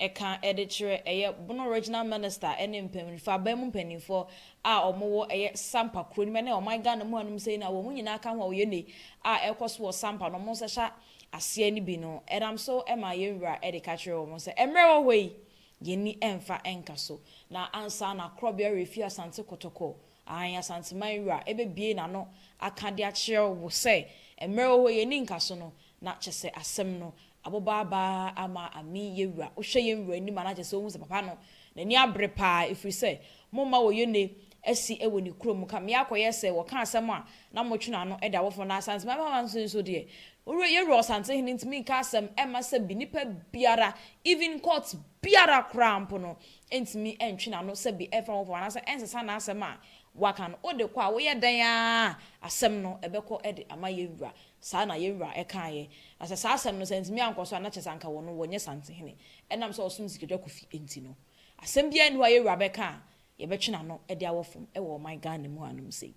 ɛka de kyerɛ ɛyɛ Bono Regional Minister ne mpanyinfo, aban mu mpanyinfoɔ a wɔwɔ ɛyɛ Sampa kuro no mu ne ɔman Ghana mu hanom sei no a wɔn nyinaa ka ho a wɔyɛ ne a ɛrekɔ so wɔ Sampa no wɔn nsa hyɛ aseɛ no bi no ɛnam so ma yɛn wura de ka kyerɛ wɔn sɛ mmerɛ ɛwɔ hɔ yi yɛn ni ɛmfa nka so na ansa na korɔbea refi Asante Kotoko Aane, Asanteman Wura bɛbue n'ano aka de akyerɛ wo sɛ mmerɛ wɔ hɔ yi ani nka so no, na kyɛ sɛ asɛm no aboba aba ama Ami yɛ Wura. Wohwɛ yɛn Wura anim a, na kyɛ sɛ wohu sɛ papa no n'ani abere pa ara, ɛfiri sɛ momma wɔyone asi wɔ ne kuro mu ka mmea kɔyɛ sɛ wɔka asɛm a na motwe n'ano da awofoɔ no. Na Asanteman Mama nso nso deɛ, yɛn Wura Ɔsantehene ntumi nka asɛm mma sɛ bi nipa biara, even court biara koraa mpo no, ɛntumi ntwe n'ano sɛ bi ɛmfa ho fam anaasɛ ɛnsesa n'asɛm a waka no, wo de kɔ a woyɛ dɛn ara a, asɛm no ɛbɛkɔ de ama yɛn wura. Saa na yɛn wura kaeɛ. Na sɛ saa asɛm no sɛ antumi ankɔ so a, na kyerɛ sɛ anka wɔn no wɔnyɛ Santehene, ɛnam sɛ ɔsom Sikadwa Kofi nti no. Asɛm biara nni hɔ a yɛn wura bɛka a yɛbɛtwe n'ano de awɔ fam wɔ ɔman Ghana mu hanom sei.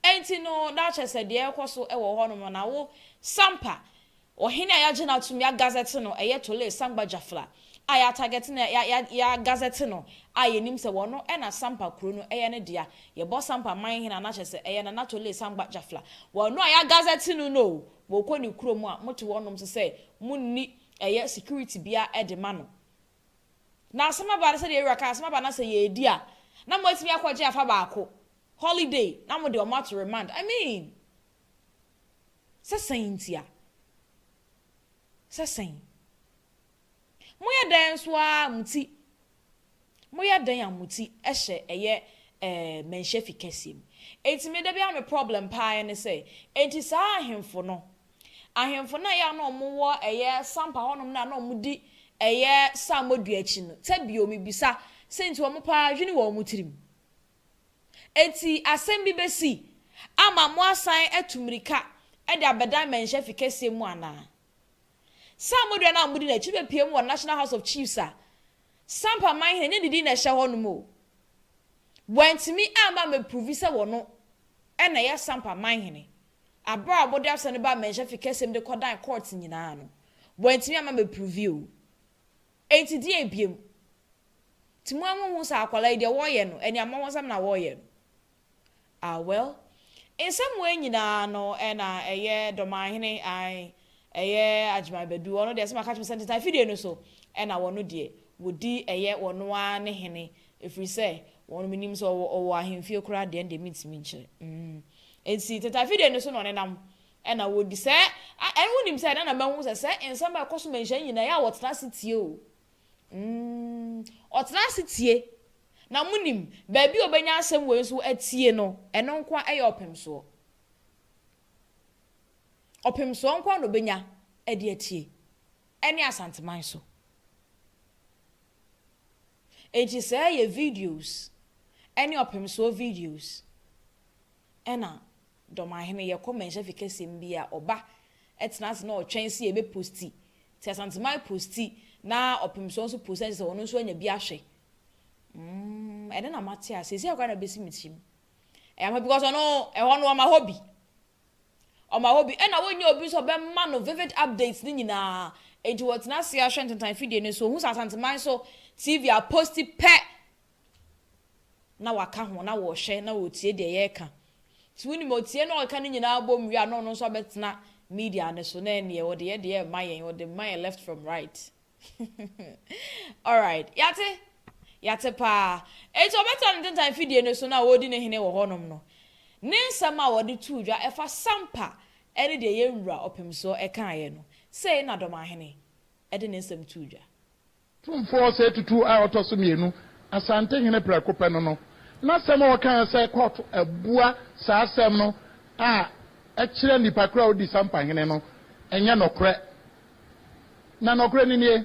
Ɛnti no, na kyerɛ sɛ deɛ ɛrekɔ so wɔ hɔnom no, na wo Sampa Ɔhene a yɛagye no atom, yɛagazɛte no, ɛyɛ Tole Sangba Jafla a yɛatagɛte no, yɛagazɛte no a yɛnim sɛ ɔno na Sampa kuro no yɛ ne dea. Yɛbɔ Sampa man hene a na kyerɛ sɛ ɛyɛ Nana Tole Sangba Jafla. Ɔno a yɛagazɛte no no o, mokɔ ne kurom a, mote wɔnom so sɛ monni ɛyɛ security biara de ma no. Na asɛm aba no sɛdeɛ Ewura kae, asɛm aba no sɛ yɛredi a, na moatumi akɔgye afa baako, holiday, na mode wɔn ato remand. I mean! Sɛ sɛn ntia? Sɛ sɛn? Moyɛ dɛn nso ara a mo ti, moyɛ dɛn a mo ti hyɛ ɛyɛ ɛɛ mmɛnhyɛ fi kɛseɛ mu. Enti me da biara me problem pa ara ne sɛ, enti saa ahemfo no, ahemfo no a ɛyɛ a na wɔn wɔ ɛyɛ sampa hɔ nom no a na wɔn di ɛyɛ saamɔ dua akyi no, sɛ bio me bisa, sɛ nti wɔn pa ara hwene wɔ wɔn tirim? Enti asɛm bi besi ama moasan atu mmirika de abɛdan mmɛnhyɛ fi kɛseɛ mu anaa? Saa mmɔdua no a modi no akyi no bɛpue mu wɔ National House of Chiefs a Sampa Manhene nyɛ ne din na ɛhyɛ hɔ no mu o. Wɔantumi amma amɛpruvi sɛ wɔno na ɛyɛ Sampa Manhene. Aberɛ a wɔde asɛm no baa mmɛnhyɛ fi kɛseɛ mu de kɔdan kɔɔt nyinaa no, wɔantumi amma amɛpruvi o. Enti deɛ ebiem? Nti mo a mo nhu saa akwadaa yi deɛ wɔɔyɛ no ɛne amɔwɔnsɛm na wɔɔyɛ no? Ah well nsɛm wei nyinaa no ɛna ɛyɛ Dɔmanhene ae ɛyɛ Agyeman Badu ɔno deɛ sɛ maka kyerɛ sɛ ntetan fidie no so ɛna wɔno deɛ wɔdi ɛyɛ wɔno ara ne hene ɛfiri sɛ wɔno menim sɛ ɔwɔ ɔwɔ ahemfie koraa deɛ ɛndeɛ mentumi nkyerɛ mm enti ntetan fidie no so na ɔnenam Ɛna wɔdi sɛ, a ɛn wonim sɛ ɛna na mahu sɛ sɛ nsɛm a ɛkɔ so ma nhyira nyina ɛyɛ a wɔtena ase tie o mm ɔtena ase tie na monim baabi a ɔbɛnya asɛm wei nso atie no ɛno nko ara ɛyɛ ɔpemsoɔ ɔpemsoɔ nko ara na ɔbɛnya ɛde atie ɛne asanteman so enti sɛ ɛyɛ videos ɛne ɔpemsoɔ videos ɛna Dɔmahene, yɛkɔ mmɛnhyɛ fi kɛseɛ mu bi a, ɔba, ɛtena ase na ɔtwɛn sɛ yɛbɛ posti. Nti Asanteman posti na Ɔpemsoɔ nso posti na kyerɛ sɛ ɔno nso anya bi ahwɛ. Umm ɛnɛ na mate aseɛ, seisei koraa na ɛbɛsi me tirim. Ɛyɛ ampa because ɔno, ɛhɔ no ɔma hɔ bi. Ɔma hɔ bi. Ɛna wɔnnya obi nso a ɔbɛma no vivid updates no nyinaa. Nti wɔtena ase ahwɛ ntentan fidie no so, ɔhu sɛ Asanteman so TV aposti pɛ, na wɔaka ho, na wɔrehwɛ, na wɔretie deɛ yɛreka. Nti wonim, ɔtie na ɔreka no nyinaa bom wie a, na ɔno nso abɛtena media no so, na ɛnneɛ ɔde yɛ deɛ ɛmma yɛn, ɔde mma yɛn left from right. Alright, yɛate? Yɛate paa. Enti ɔbɛtena ne ntentan mfidie no so na ɔredi ne hene wɔ hɔnom no, ne nsɛm a wɔde too dwa ɛfa Sampa ne deɛ yɛn Wura Ɔpemsoɔ kaeɛ no, sei na Dɔmahene de ne nsɛm too dwa. Tumfoɔ Osei Tutu a ɔtɔ so mmienu, Asantehene prɛko pɛ no no, n'asɛm a ɔkaeɛ sɛ court abua saa asɛm no a ɛkyerɛ nipa korɔ a ɔdi Sampahene no nyɛ nɔkorɛ. Na nɔkorɛ no nie,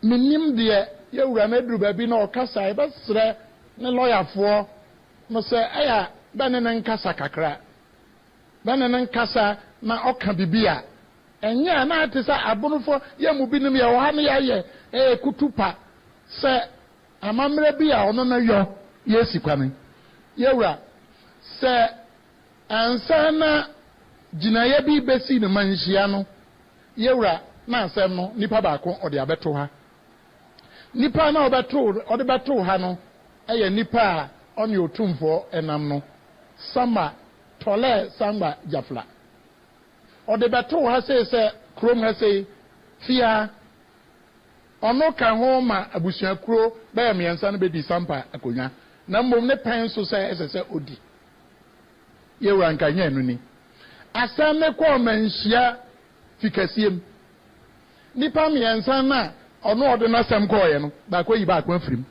mennim deɛ yɛwura no aduru baabi na ɔkasa a yɛbɛsrɛ ne lɔyafoɔ no sɛ ɛyɛ a bɛne no nkasa kakra na ne ne nkasa na ɔka bibi a, ɛnyɛ a na ayɛ te sɛ abonofo yɛ mu binom yɛ wɔ ha no yɛayɛ ɛyɛ kutupa sɛ amammerɛ bi a ɔno no yɔ yɛsi kwane. Yɛwura, sɛ ansa na gyinaeɛ bi bɛsi no manhyia no, yɛwura na asɛm no nipa baako ɔde abɛto ha. Nipa na ɔbɛto ɔde bɛto ha no yɛ nipa a ɔne otumfoɔ nam no, Sama Tɔlɛɛ Sangba Jafla. Ɔde bɛtoo ha sei sɛ kurom ha sei, Fia. Ɔno ka ho ma abusuakuro bɛyɛ mmiɛnsa no bɛdi Sampa akonnwa, na mmom ne pɛn so sɛ ɛsɛ sɛ ɔdi. Yewura Nkaeɛ ɛno ni. Asɛm no kɔ ɔmanhyia fikasiem. Nnipa mmiɛnsa no a ɔno ɔde n'asɛm kɔeɛ no, baako ayi baako afiri mu.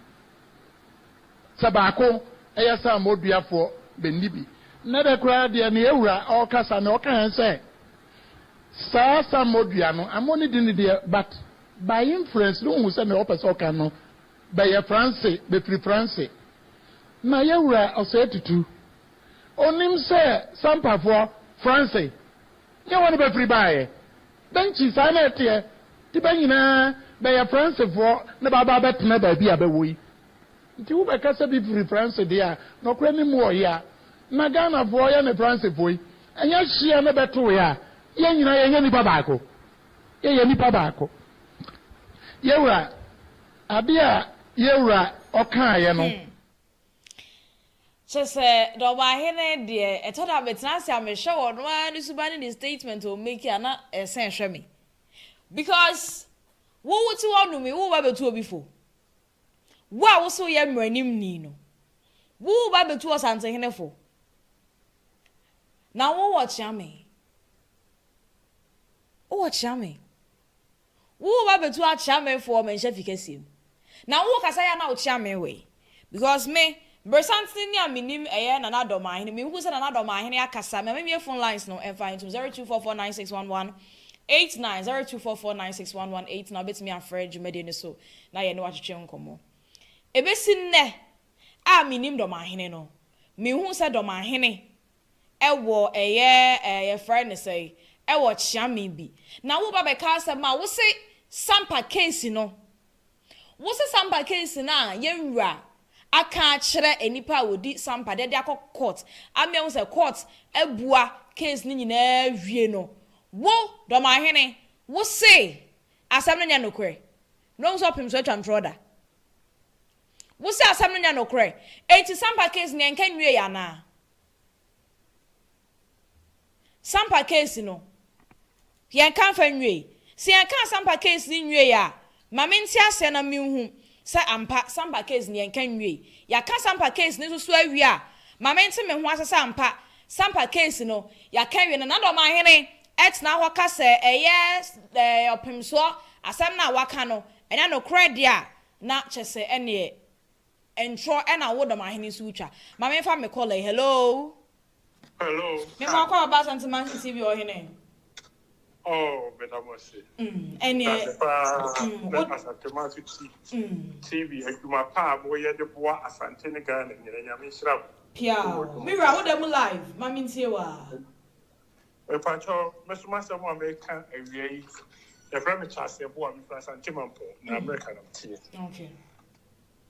Sɛ baako yɛ saamɔduafoɔ, bɛnni bi. Nnɛ da koraa deɛ ne yɛn wura ɔɔkasa no ɔka yɛn sɛ saa saamɔdua no amɔ ne dini deɛ but by inference no wohu sɛ nea ɔpɛ sɛ ɔka no bɛyɛ franse bɛfiri franse na yɛn wura ɔsɛɛ tutu ɔnim sɛ sampafoɔ franse nyɛ wɔn bɛfiri baeɛ bɛnkyi saa na ɛteɛ nti bɛ nyinaa bɛyɛ fransefoɔ na bɛaba abɛtena baabi a bɛwɔ yi Nti wo bɛ kasa bi firi France deɛ a nɔkorɛ nim mu wɔ hea? Na Ghana foɔ yɛ ne France foɔ yi ɛnyɛ hyeɛ ne bɛ too yɛ a yɛn nyinaa yɛnyɛ nipa baako yɛ yɛ nipa baako yɛ wura adeɛ a yɛ wura ɔkaa yɛ no. Hmm kyɛ sɛ na ɔmanhene deɛ ɛtɔ da me tena ase a me hwɛ wɔn ara ne suban ne ne statement wɔn make a na ɛsɛn hwɛ me because wo wo te hɔ nom yi wo ba bɛ tu obi fo Wo a wo se woyɛ mmaranimni no, wo wo ba bɛtu Ɔsantehene fo, na wo wɔ kyea me. Wo wɔ kyea me. Wo wo ba bɛtu akyea me fo wɔ me nhyɛfi kɛseɛ mu, na wo wo kasa yɛ a na wo kyea me wɔ yi, because me Beresantsen ni a minyim yɛ Nana Addo Maahene. Mihu sɛ Nana Addo Maahene akasa. Mema mimie phone lines no mfa ntom, zero two four four nine six one one eight nine, zero two four four nine six one one eight nine, wobɛtumi afrɛ dwumadie no so na yɛne wo atwetwe nkɔmmɔ. Ɛbɛsi nnɛ a menim Dɔ Maahene no, menhuu sɛ Dɔ Maahene wɔ ɛyɛ ɛɛ yɛfrɛ no sɛn, wɔ kyeame bi. Na woba bɛka asɛm a wose Sampa case no, Wo sɛ sampa case no a yɛn wura aka akyerɛ nnipa a wɔdi sampa de de akɔ court ama yɛahu sɛ court abua case no nyinaa awie no, wo Dɔmahene wo se asɛm no nyɛ nokorɛ na wahu sɛ ɔpem so atwa ntorɔ da. Wo se asɛm no nyɛ nokorɛ, enti sampa case no yɛnka nwieɛ anaa? Sampa case no, yɛnka mfa nwiei. Sɛ yɛka Sampa case no nwiei a, ma mente aseɛ na menhu sɛ ampa Sampa case no yɛnka nwiei. Yɛaka Sampa case no nso so awie a, ma mente me ho ase sɛ ampa Sampa case no yɛaka awie. Nana Domahene tena hɔ ka sɛ ɛyɛ eh, ɔpemsoɔ asɛm no a waka no ɛnyɛ nokorɛ deɛ a, na kyɛ sɛ ɛnneɛ ntorɔ na wo Domahene nso wotwa. Ma memfa me caller yi, hello. Hello. Me mo akwa oba Asante Mansion TV ohene. Oh, me da mo se. Mm. Ene. Da se pa. Mm. Na Asante Mansion TV mm. adwuma pa mo ye de boa Asante ne Ghana nyina nyame nhyira mo. Pia. Me wura wo da mu live. Ma me ntie wa. Me pa cho, me so ma se mo me ka awia yi. Ya fra me chase boa me fra Asante Mampo na America na tie. Okay.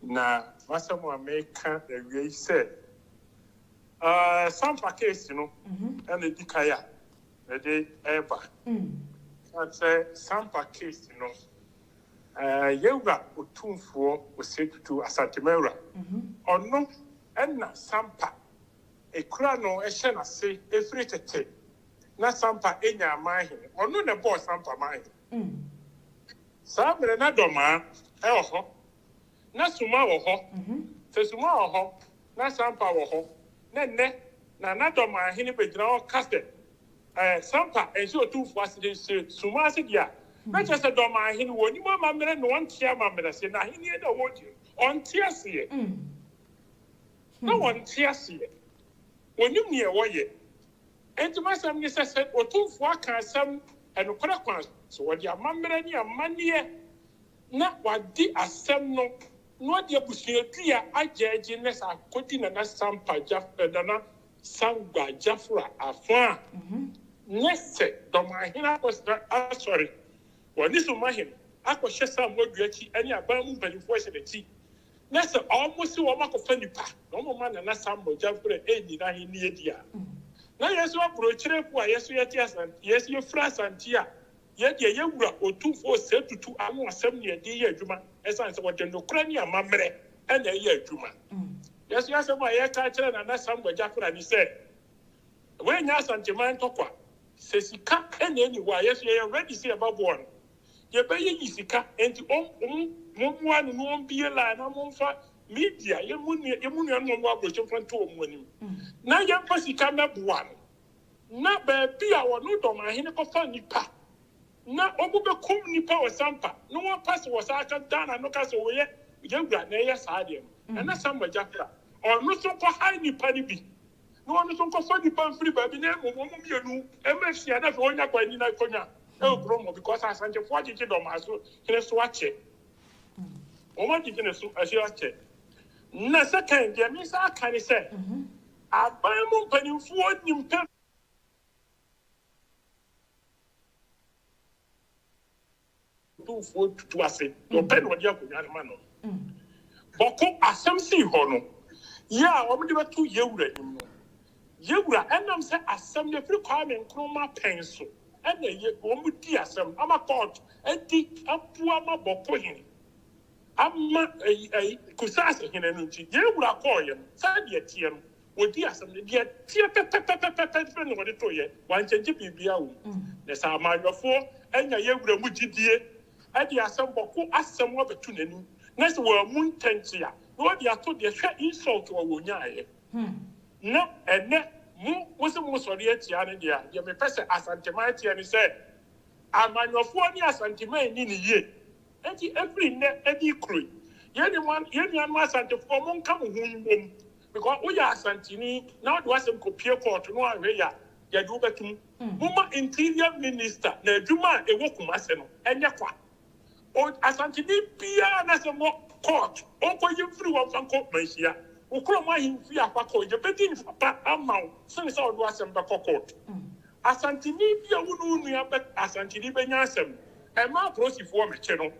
Na m'asɛm a mereka awiei sɛ, Sampa case no na edi kan a mede reba. Esiane sɛ Sampa case no, yɛn wura Otumfoɔ Osei Tutu Asante Mawura, ɔno na Sampa kura no hyɛ n'ase firi tete, na Sampa nya amanhene. Ɔno na ɛbɔɔ Sampa manhene. Saa bere na dɔmaa wɔ hɔ, na suma wɔ hɔ. Sɛ suma wɔ hɔ na sampa wɔ hɔ na nnɛ na na dɔmaa hene begyina hɔ ka sɛ sampa nhyɛ otumfoɔ ase de hyɛ suma ase deɛ a, na kyerɛ sɛ dɔmaa hene wɔnnim amammerɛ na ɔnte amammerɛ aseɛ. N'ahennie no a wɔredi no, ɔnte aseɛ. Na ɔnte aseɛ. Ɔnnim deɛ wɔyɛ. Enti m'asɛm ne sɛ, sɛ Otumfoɔ aka asɛm nokorɛ kwan so, ɔde amammerɛ ne amanneɛ, na wadi asɛm no, na ɔde abusuadua agyɛɛgye na saa kɔdi Nana Sampa Jaf eh, Nana Sangba Jafra afã a, nyɛ sɛ Dɔmanhene akɔsra Asɔre wɔ Aniso Mahene akɔhyɛ Samuadua akyi ne aban mu mpanimfoɔ hyɛ n'akyi, na sɛ ɔmo se ɔmo akɔfa nnipa na ɔmo ma Nana Sam mogya mprɛ ɛnni n'ahenni adi a, na yɛ nso abrokyire mpo a yɛ nso yɛte Asante, yɛ nso yɛfiri Asante a, yɛ deɛ yɛ wura Otumfoɔ Osei Tutu ano asɛm na yɛde yɛ adwuma ɛsiane sɛ ɔde nokorɛ ne amammerɛ na ɛyɛ adwuma. Yɛ nso yɛ asɛm a yɛka akyerɛ Nana Sam mogya mprɛ ne sɛ, w'annya Asanteman ntɔkwa, sɛ sika na ɛnni hɔ a, yɛ nso yɛyɛ ready sɛ yɛbɛboa no. yɛbɛyɛ nyi sika nti ɔm ɔmo mommoa no na ɔmbie line na momfa media yɛ mo nua yɛ mo nuanom ɔmo wɔ aborɔkyɛ mfa nto ɔmo anim na yɛmfa sika mɛboa no na baabi a ɔno dɔmahene kɔfa nnipa na ɔmo bɛkum nnipa wɔ sampa na wɔpa sɛ wɔsan aka Ghana no ka sɛ wɔyɛ yɛwura na ɛyɛ saa deɛ no ɛna samagya kora ɔno so kɔ hae nnipa no bi na ɔno nso nkɔfa nnipa mfiri baabi na mmom wɔn mmienu mmra nhyia na afei wɔnya kwan nni n'akonwa wɔ kurom hɔ because Asantefoɔ agyegye Dɔmaa so hene so akyɛ. Wɔn agyegye ne so ahyɛ akyɛ. Na second deɛ me nsa aka ne sɛ aban mu mpanimfoɔ nim pɛ. Tumfoɔ tutu ase na ɔpɛ na ɔde akonnwa no ma no. Bɔko asɛm sii hɔ no, yɛ a wɔde bɛto yɛn wura anim no, yɛn wura ɛnam sɛ asɛm no firi Kwame Nkrumah pɛn so na ɛyɛ, wɔdi asɛm no ama kɔɔto adi aboa ma Bɔko hene ama Kusase hene no nti, yɛn wura kɔɔeɛ no sɛdeɛ ɛteɛ no, Wɔdii asɛm no, deɛ ɛteɛ pɛpɛpɛpɛpɛ nso na wɔde toeɛ, wɔankyɛngye biribiara wɔ mu. Na sɛ amanyɔfoɔ anya yɛn wura mu gyidie de asɛmmɔko asɛm abɛto n'anim, na sɛ wammu ntɛnkye a, na wɔde ato deɛ hwɛ insult a wɔnyaaeɛ. Na ɛnnɛ, mo, mose moresɔre atia no deɛ a, deɛ mepɛ sɛ Asanteman teɛ ne sɛ, amanyɔfoɔ ne Asanteman nni no yie, Enti ɛfiri nnɛ ɛde kuro yi, yɛn nuanom yɛn nuanom Asantefoɔ mo nka mo ho mmom because wo yɛ Asanteni na wode w'asɛm kɔ pie kɔɔto no anhwɛ yɛ a yɛde wo bɛto mu. Momma Interior Minister na adwuma a ɛwɔ Kumase no ɛnyɛ kwa. O Asanteni biara n'asɛm wɔ kɔɔto ɔnkɔ yi mfiri hɔ mfa nkɔ Manhyia, wo kurom ahemfie a fa kɔ, yɛbɛdi nfa pa ama wo sene sɛ wode w'asɛm bɛkɔ kɔɔto. Asanteni bi a wo ne wo nua bɛ Asanteni bɛnya asɛm. Ɛmma apolisifoɔ mmɛkyɛ no.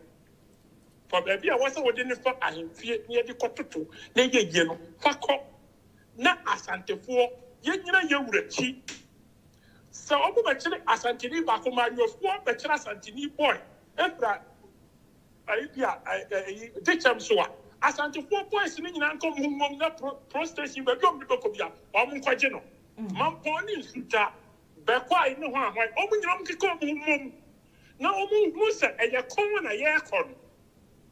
Fa baabi a wɔsɛ wode no fa ahemfie na yɛde kɔtoto na ɛyɛ yie no, fa kɔ. Na Asantefoɔ, yɛnnyina yɛn wura akyi. Sɛ wɔbɛkyere Asanteni baako, mmayewafoɔ bɛkyere Asanteni boy fira ayi bi a, ɛ, ɛ, ayi, dekyɛm so a, Asantefoɔ boys no nyinaa nkɔ wɔn ho nwom na pro, pro station, baabi a wɔde bɛkɔ biara, wɔn nkɔgye no. Mampɔn ne Nsutwa, Bɛkwae ne Hwanhwan, wɔn nyinaa wɔnkeka wɔn ho mmom na wɔnhunu sɛ ɛyɛ ko na yɛrekɔ no.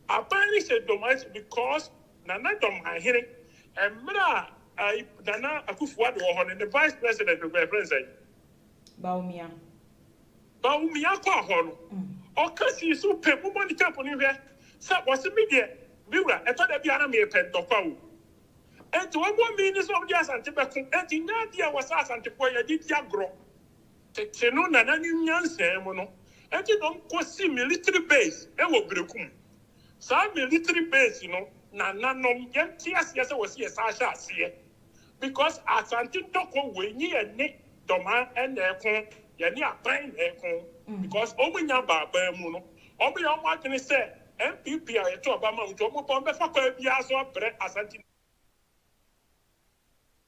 Aban no hyɛ dɔm ase because Nana Dɔmmanhene, mmerɛ a ayi Nana Akufo-Addo wɔ hɔ no, ne Vice President no, yɛfrɛ no sɛn? Bawumia. Bawumia kɔɔ hɔ no, ɔka sii so pɛ, mommɔ ne tape no nhwɛ, sɛ ɔse, me deɛ, me wura, ɛtɔ da bi a na merepɛ ntɔkwa o, Enti wɔbɔ mmee ne sɛ wɔde Asante bɛko. Enti nyɛ ade a ɛwɔ sɛ Asantefoɔ yɛ de di agorɔ. Tete no na na ne nyansaa mu no, enti na wɔkɔsi military base wɔ Berekum. Saa military base no, nananom, yɛnte aseɛ sɛ wɔsi ɛsan ahyɛ aseɛ. Because Asante dɔkɔ wei, nye yɛn ne Dɔmaa na ɛko, yɛne aban na ɛko. Because wɔn nnya baa baa mu no, wɔyɛ wɔn adwene sɛ NPP a yɛto aba ma wo nti ɔmo pɔn bɛfa kwan biara so abrɛ Asante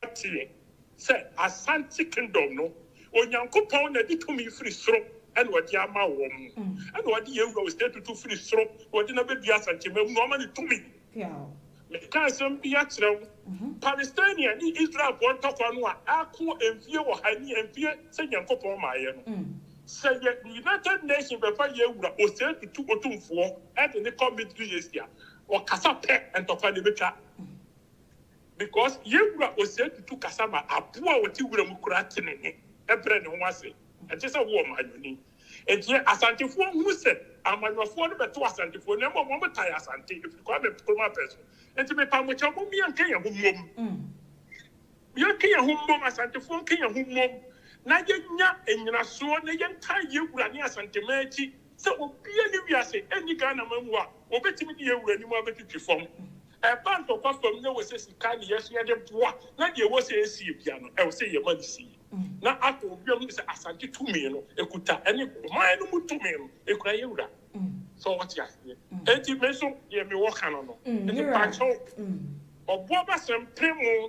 Ateɛ sɛ Asante Kingdom no Onyankopɔn na de tumi firi soro na ɔde ama wɔn ɛna ɔde yɛn wura Osei Tutu firi soro na ɔde no abɛdua Asantema mu na ɔma no tumi Meka asɛm bi akyerɛ wo. Palestine ne Israelfoɔ ntɔkwa no a ako mfie ɔha nie, mfie sɛ Nyankopɔn maaeɛ no, sɛ yɛ United Nations bɛfa yɛn wura Osei Tutu Otumfoɔ de no kɔ Middle East a, ɔkasa pɛ ntɔkwa no bɛtwa. Because yɛn wura Osei Tutu kasa ma aboa a ɔte wura mu koraa te ne nne brɛ ne ho ase. Ɛnte sɛ wo ɔmanyɔni. Enti no, Asantefoɔ hunu sɛ Amanyɔfoɔ no bɛto Asantefoɔ no, mmom wɔtae Asante, ɛfiri Kwame Nkrumah pɛ so. Enti mepa mo kyɛw, mom yɛnka yɛn ho mmom. Yɛnka yɛn ho mmom, Asantefoɔ nka yɛn ho mmom, na yɛnya nnyinasoɔ, na yɛntaa yɛn wura ne Asanteman akyi, sɛ obiara nni wiase, ɛnni Ghanaman mu a, wɔbɛtumi de yɛn wura anim abɛtwitwi fam. Ɛba ntɔkwa fam no, ɛwɔ sɛ sika na yɛhwɛ de boa, na deɛ ɛwɔ sɛ yɛsie biara no, ɛwɔ sɛ yɛma no sie. na atɔ obi a wonim sɛ Asante tumi no ekuta ɛne ɔman no mu tumi no ekura yɛ wura. So wote aseɛ? Enti me nso deɛ me wɔ ka no no. Enti pakyɛw ɔboabasɛm pere mo.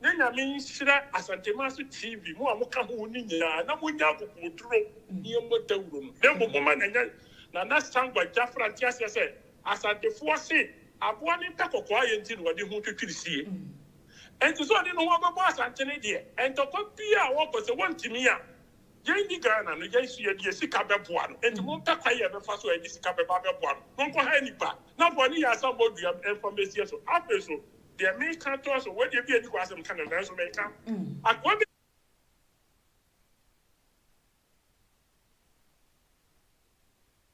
Na Nyame nhyira Asantemase TV, mo a mo ka ho no nyinaa, na mo nyɛ akokoɔduro ne ɛmɔ dawuro no, na mmom mo ma no nyɛ Nana Sangwa Jafra nte aseɛ sɛ Asantefoɔ se aboa no mpɛ kɔkɔɔ ayɛ nti na ɔde ho twitwiri sie. Enti sɛ ɔde ne ho abɛbɔ Asante no deɛ, ntɔkwa biara a ɔkɔ sɛ wɔntumi a, yɛn nni Ghana no, yɛn nso yɛde yɛn sika bɛboa no. Enti mompɛ kwan a yɛbɛfa so a yɛde sika bɛba abɛboa no. Monkɔhae nnipa na wɔne yɛn asammɔ dua mfa mmɛsie so. Afei nso, deɛ meka toa so, wei deɛ ebia nni kwan sɛ meka no, nanso meka. Akoa bi.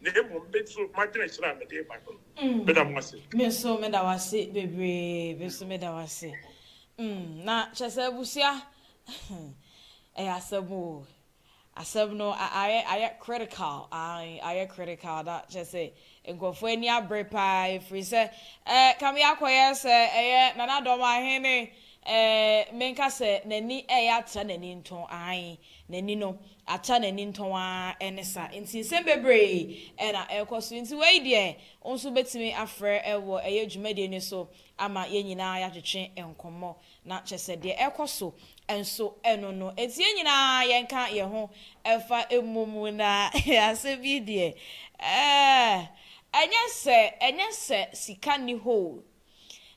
na mmom me nso m'adwenkyerɛ a mede reba no. Meda mo ase. Me nso meda wo ase bebree. Me nso meda wo ase. Mm, na kyerɛ sɛ abusua, ɛyɛ asɛm o. Asɛm no ayɛ ayɛ critical, ae, ayɛ critical, na kyerɛ sɛ nkurɔfoɔ ani abere paa ɛfiri sɛ eh, kame akɔyɛ sɛ ɛyɛ Nana Dɔm Ahene eh, menka sɛ n'ani ɛreyɛ atra n'ani nto, ae, n'ani no Ata n'ani ntɔn ara ne sa. Nti nsɛm bebree na ɛrekɔ so. Nti wei deɛ wo nso wobɛtumi afrɛ wɔ ɛyɛ dwumadie no so ama yɛn nyinaa yɛatwetwe nkɔmmɔ. Na kyerɛ sɛ deɛ ɛrekɔ so nso ɛno no nti yɛn nyinaa yɛnka yɛn ho mfa mmɔ mu na asɛm yi deɛ eh ɛnyɛ sɛ ɛnyɛ sɛ sika nni hɔ o,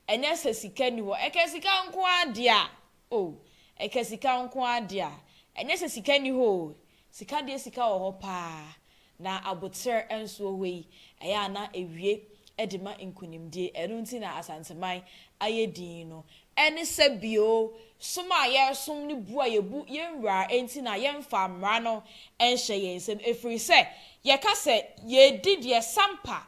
ɛnyɛ sɛ sika nni hɔ, ɛka sika nko ara deɛ a O, ɛka sika nko ara de a, ɛnyɛ sɛ sika nni hɔ o, sika deɛ sika wɔ hɔ pa ara, na aboterɛ nso wɔ hɔ yi, ɛyɛ a na ɛwie de ma nkunimdie, ɛno nti na Asanteman ayɛ din no, ɛne sɛ bio, som a yɛresom ne bu a yɛbu yɛn nwura nti na yɛmfaa mmara no nhyɛɛ yɛn nsam, ɛfiri sɛ yɛka sɛ yɛredi deɛ sampa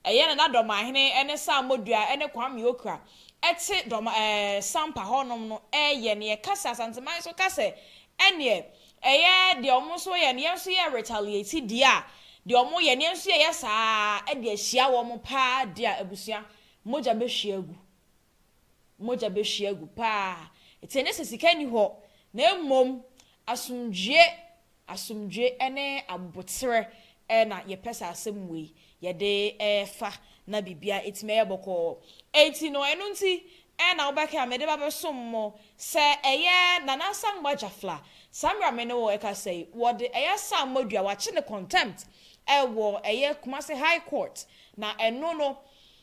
Ɛyɛ Nana Dɔmahene ne Sam Modua ne Kwame Okra te Dɔma ɛɛ Sampa hɔnom no reyɛ no yɛka sɛ Asanteman nso ka sɛ ɛneɛ ɛyɛ deɛ wɔn nso yɛ no yɛn nso yɛ retaliate deɛ a deɛ wɔn yɛ no yɛn nso yɛyɛ saa ara de ahyia wɔn paa deɛ a abusua mogya bɛhwie agu. mogya bɛhwie agu paa. Ɛte ɛnnɛ sɛ sika nni hɔ, na mmom asomdwoeɛ, asomdwoeɛ ne aboterɛ na yɛpɛ saa asɛm wei yɛde fa na biribiara atumi ayɛ bɔkɔɔ. Enti no, ɛno nti na wobɛka a mede ba bɛsom mo. Sɛ ɛyɛ Nana Asamoah Gyafla, saa mmerɛ a me ne wo rekasa yi, wɔde ɛyɛ Asamoah dua, wɔakye no contempt wɔ ɛyɛ Kumasi High Court, na ɛno no,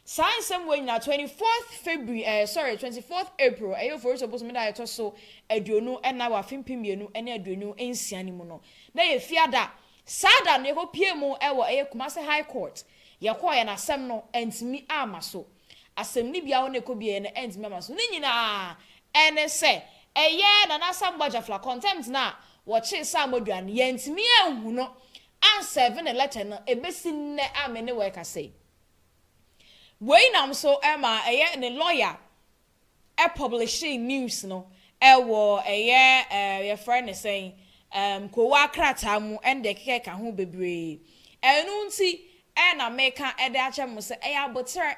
Saa nsɛm wei nyinaa, twenty fourth February ɛɛ sorry, twenty fourth April, ɛyɛ Oforisuo bosome da a ɛtɔ so aduonu nnan wɔ afe mpem mmienu ne aduonu nsia no mu no, na ɛyɛ Fiada. Saa da no, yɛkɔpuee mu wɔ ɛyɛ Kumasi High Court. Yɛkɔeɛ no, asɛm no antumi amma so. Asɛnnibea hɔ na yɛkɔbueeɛ no antumi amma so. Ne nyinaa ne sɛ, ɛyɛ Nana Asam Bɔgyafla, contempt no a wɔkyee Sam Odua no, yɛantumi anhu no, ansɛɛve ne lɛtɛ no, ɛbɛsi nnɛ a me ne wo rekasa yi. Wei nam so ma ɛyɛ ne lɔya pɔblehyee news no wɔ ɛyɛ yɛfrɛ no sɛn Kowaa krataa mu ne deɛ ɛkeka keka ho bebree. Ɛno nti na meka de akyerɛ mo sɛ ɛyɛ aboterɛ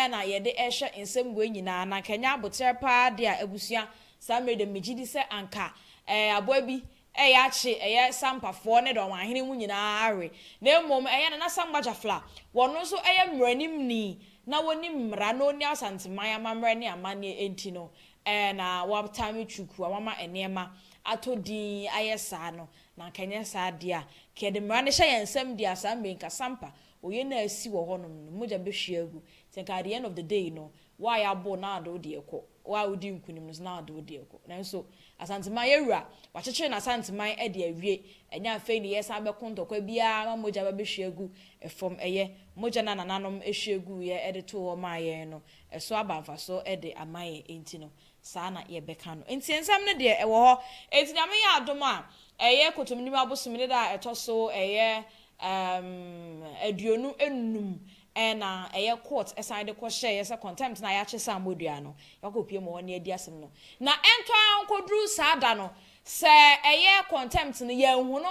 na yɛde rehwɛ nsɛm wei nyinaa. Na anka ɛnyɛ aboterɛ paa deɛ a abusua saa mmerɛ deɛ megye di sɛ anka aboa bi Ɛyɛ akye ɛyɛ Sampafoɔ ne dɔn ahene mu nyinaa awe, na mmom ɛyɛ Nana Sankwa Gyafla, wɔno nso ɛyɛ mmaranimni na wɔnim mmara na ɔni Asanteman amammerɛ ne amanneɛ enti no ɛɛ na wɔtaa nwe kyukuu a wɔama nneɛma atɔ din ayɛ saa no, na anka ɛnyɛ saa deɛ a, anka yɛde mmara no hyɛ yɛn nsam deɛ a saa mmerɛ yi anka Sampa, oyɛ no a asi wɔ hɔnom no mogya bɛhwie agu, nti anka at the end of the day no Wo a yɛabow na ade wo deɛ kɔ, wo a wodi nkunim no so na ade wo deɛ kɔ. Nanso Asanteman yɛ wura, wɔakyekyere no Asanteman de awie, ɛnyɛ afei na yɛresan bɛko ntɔkwa biara ma mogya aba bɛhwie agu fam. Ɛyɛ, mogya no a nananom hwie guiɛ de too hɔ maa yɛn no, ɛso aba mfaso de ama yɛn, enti no, saa na yɛbɛka no. Nteɛsɛm no deɛ, ɛwɔ hɔ. Enti Nyame yɛ adom a, ɛyɛ Kotominim abosome ne da a ɛtɔ so, ɛyɛ, um, aduonu nnum, Ɛna ɛyɛ court ɛsan de kɔ hyɛɛ yɛ sɛ contempt no a yɛakye sɛ ammɔ dua no, yɛakɔ pue mu hɔ na yɛadi asɛm no. Na ɛntɔ ara nkɔduru saa da no, sɛ ɛyɛ contempt no, yɛanhu no.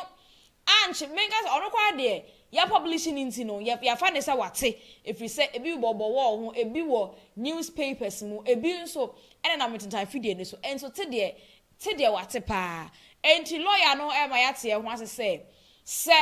Ankye, menka sɛ, ɔno koraa deɛ, yɛ publish no nti no, yɛ, yɛafa no sɛ wate, ɛfiri sɛ ebi bɔ bɔ wɔɔ ho, ebi wɔ news papers mu, ebi nso ɛnenam ntentan afidie no so. Nso te deɛ, te deɛ wate pa ara. Enti lawyer no rema yɛate yɛn ho ase sɛ, sɛ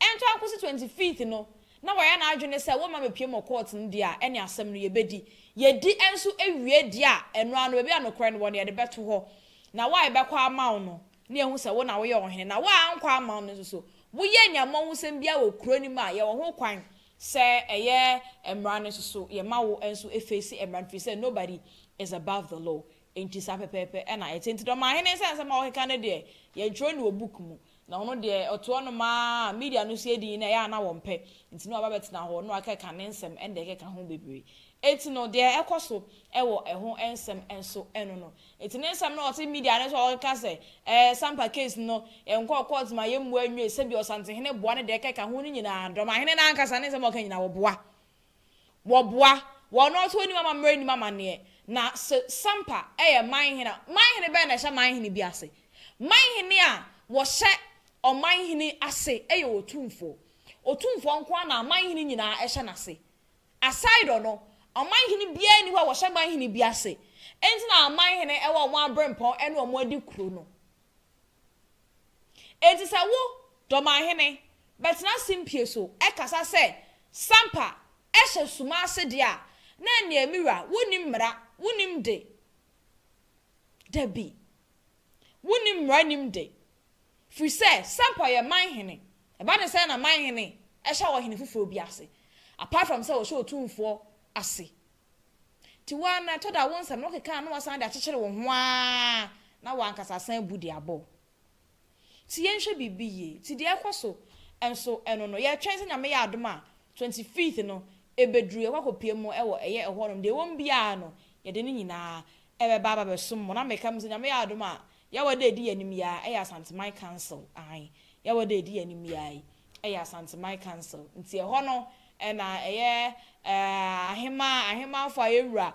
Ɛnto ankosi twenty fifth no na wayɛ n'adwene sɛ wɔmma mepue mɔ court no deɛ a ɛne asɛm no yɛbɛdi. Yɛdi nso wie deɛ a ɛno ara no baabi a nokorɛ no wɔ no yɛde bɛto hɔ. Na wo a yɛbɛkɔ ama wo no na yɛahu sɛ wo na woyɛ ɔhene. Na wo a ankɔ amma wo no nso so woyɛɛ nea mmɔ ho sɛm biara wɔ kuro no mu a yɛwɔ ho kwan sɛ ɛyɛ mmara no nso so yɛma wo nso face mmara no firi sɛ nobody is above the law. Enti saa pɛpɛɛpɛ na ɛte. Nti dɔm ahene nsa nsɛm a wɔkeka no deɛ, yɛntwerɛ no wɔ book mu. Na ɔno deɛ, ɔte hɔ nom ara, media no sua din no, ɛyɛ a na wɔmpɛ. Nti na waba bɛtena hɔ, na wakeka ne nsɛm ɛnna ɛkeka ho bebree. Enti no, deɛ ɛkɔ so wɔ ɛho nsɛm nso ɛno no. Enti ne nsɛm na ɔte media no so a ɔkeka sɛ, ɛɛ, Sampa case no, yɛnkɔɔ court ma yɛmmua nnwee, sɛdeɛ Ɔsantehene boa ne deɛ ɛkeka ho no nyinaa, dɔm ahene no ankasa ne nsɛm a ɔka nyinaa, wɔboa. Wɔboa, wɔn a wɔte wɔn anim amammerɛ nim amanneɛ. Na se Sampa yɛ manhene a, manhene bɛn na ɛhyɛ manhene bi ase? Manhene a wɔhyɛ ɔmanhene ase yɛ otumfoɔ. Otumfoɔ nko ara na amanhene nyinaa hyɛ n'ase. Aside ɔno, ɔmanhene biara nni hɔ a wɔhyɛ manhene bi ase. Enti na amanhene wɔ wɔn aberempɔn ne wɔn adikuro no. Enti sɛ wo, Dɔmahene, bɛtena simpie so kasa sɛ, Sampa, ɛhyɛ suma ase deɛ a, na ɛnneɛ me wura, wonni mmara, wonni mde. Dabi. Wonni mmara nni mde. Firi sɛ, Sampa yɛ man hene. Ɛba ne sɛ na man hene hyɛ ɔhene foforɔ bi ase, apart from sɛ ɔhyɛ otumfoɔ ase Nti wo ara no, ɛtɔ da a wo nsɛm no wokeka a na woasan de akyekyere wo ho ara na w'ankasa asan abu de abɔ wo. Nti yɛnhwɛ biribi yie. Nti deɛ ɛrekɔ so nso no no, yɛretwɛn sɛ Nyame yɛ adom a twenty fifth no ɛbɛduru, yɛakɔ akɔpue mu wɔ ɛyɛ ɛhɔ nom. Deɛ ɛwɔ mu biara no, yɛde ne nyinaa ɛbɛba aba bɛsom mo. Na meka mu sɛ Nyame yɛ adom a, Yawa da ɛdi yɛn anim yi ara, ɛyɛ Asanteman Council, aane, Yawa da ɛdi yɛn anim yi ara yi, yɛ Asanteman Council. Nti ɛhɔ no na ɛyɛ aheman ahemanfoɔ a yɛn wura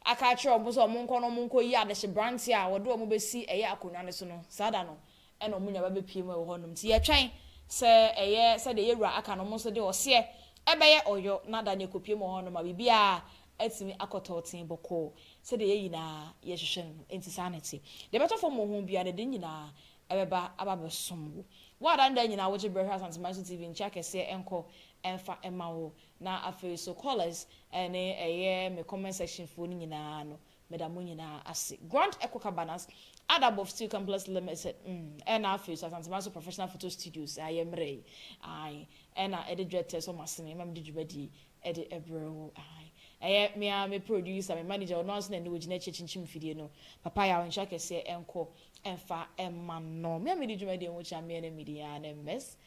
aka akyerɛ wɔn sɛ wɔn nkɔ na wɔn nkɔ yi adehyebranteɛ a wɔde wɔn bɛsi ɛyɛ akonnwa no so no, saa da no na wɔn nyinaa ba bɛpue mu wɔ hɔ nom. Nti yɛtwɛn sɛ ɛyɛ sɛdeɛ yɛn wura aka no, wɔn nso de ɔseɛ ɛbɛyɛ ɔyɔ na da no yɛkɔpue mu wɔ hɔ nom ma biribiara atumi akɔ tɔɔtee bɔkɔɔ sɛdeɛ yɛn nyinaa yɛhwehwɛ no no. Nti saa na ɛte. Deɛ ɛbɛtɔ fam wɔ ho biara no, ɛde ne nyinaa ɛbɛba aba abɛsom wo. Wo a da ne da nyinaa wogye berɛ hwɛ Asanteman so TV nkyea kɛseɛ nkɔ mfa mma wo. Na afei nso callers ne ɛyɛ me comment section foɔ no nyinaa no meda mo nyinaa ase. Grand Echo Cabanas, Adab of Steel Complex Limited mm ɛna afei nso Asanteman so Professional Photo Studios a yɛmmerɛ yi ae ɛna ɛde dwetɛ sɔ m'asene ma mede dwumadie yi ɛde ɛbrɛ wo ae. Ɛyɛ me ara me producer, me manager, ɔno ara nso na ɛnnɛ ɔgyina akyi akyinkyim mfidie no. Papa yaw nkyea kɛseɛ nkɔ Ɛmfa mma no, me a medi dwumadie ho kyea meɛ na medi aa ne Miss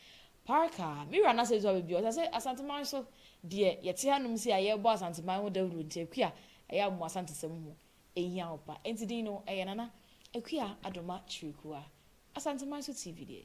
Parker. Me wura n'asɛm sɛ baabi a ɔte ase Asanteman so deɛ yɛte hanom sei a yɛrebɔ Asanteman ho dawuro nti Akua ɛyɛ a mo Asantesɛm ho ɛhia wo pa. Enti din no ɛyɛ Nana Akua Adoma Kyirikua. Asanteman so TV deɛ.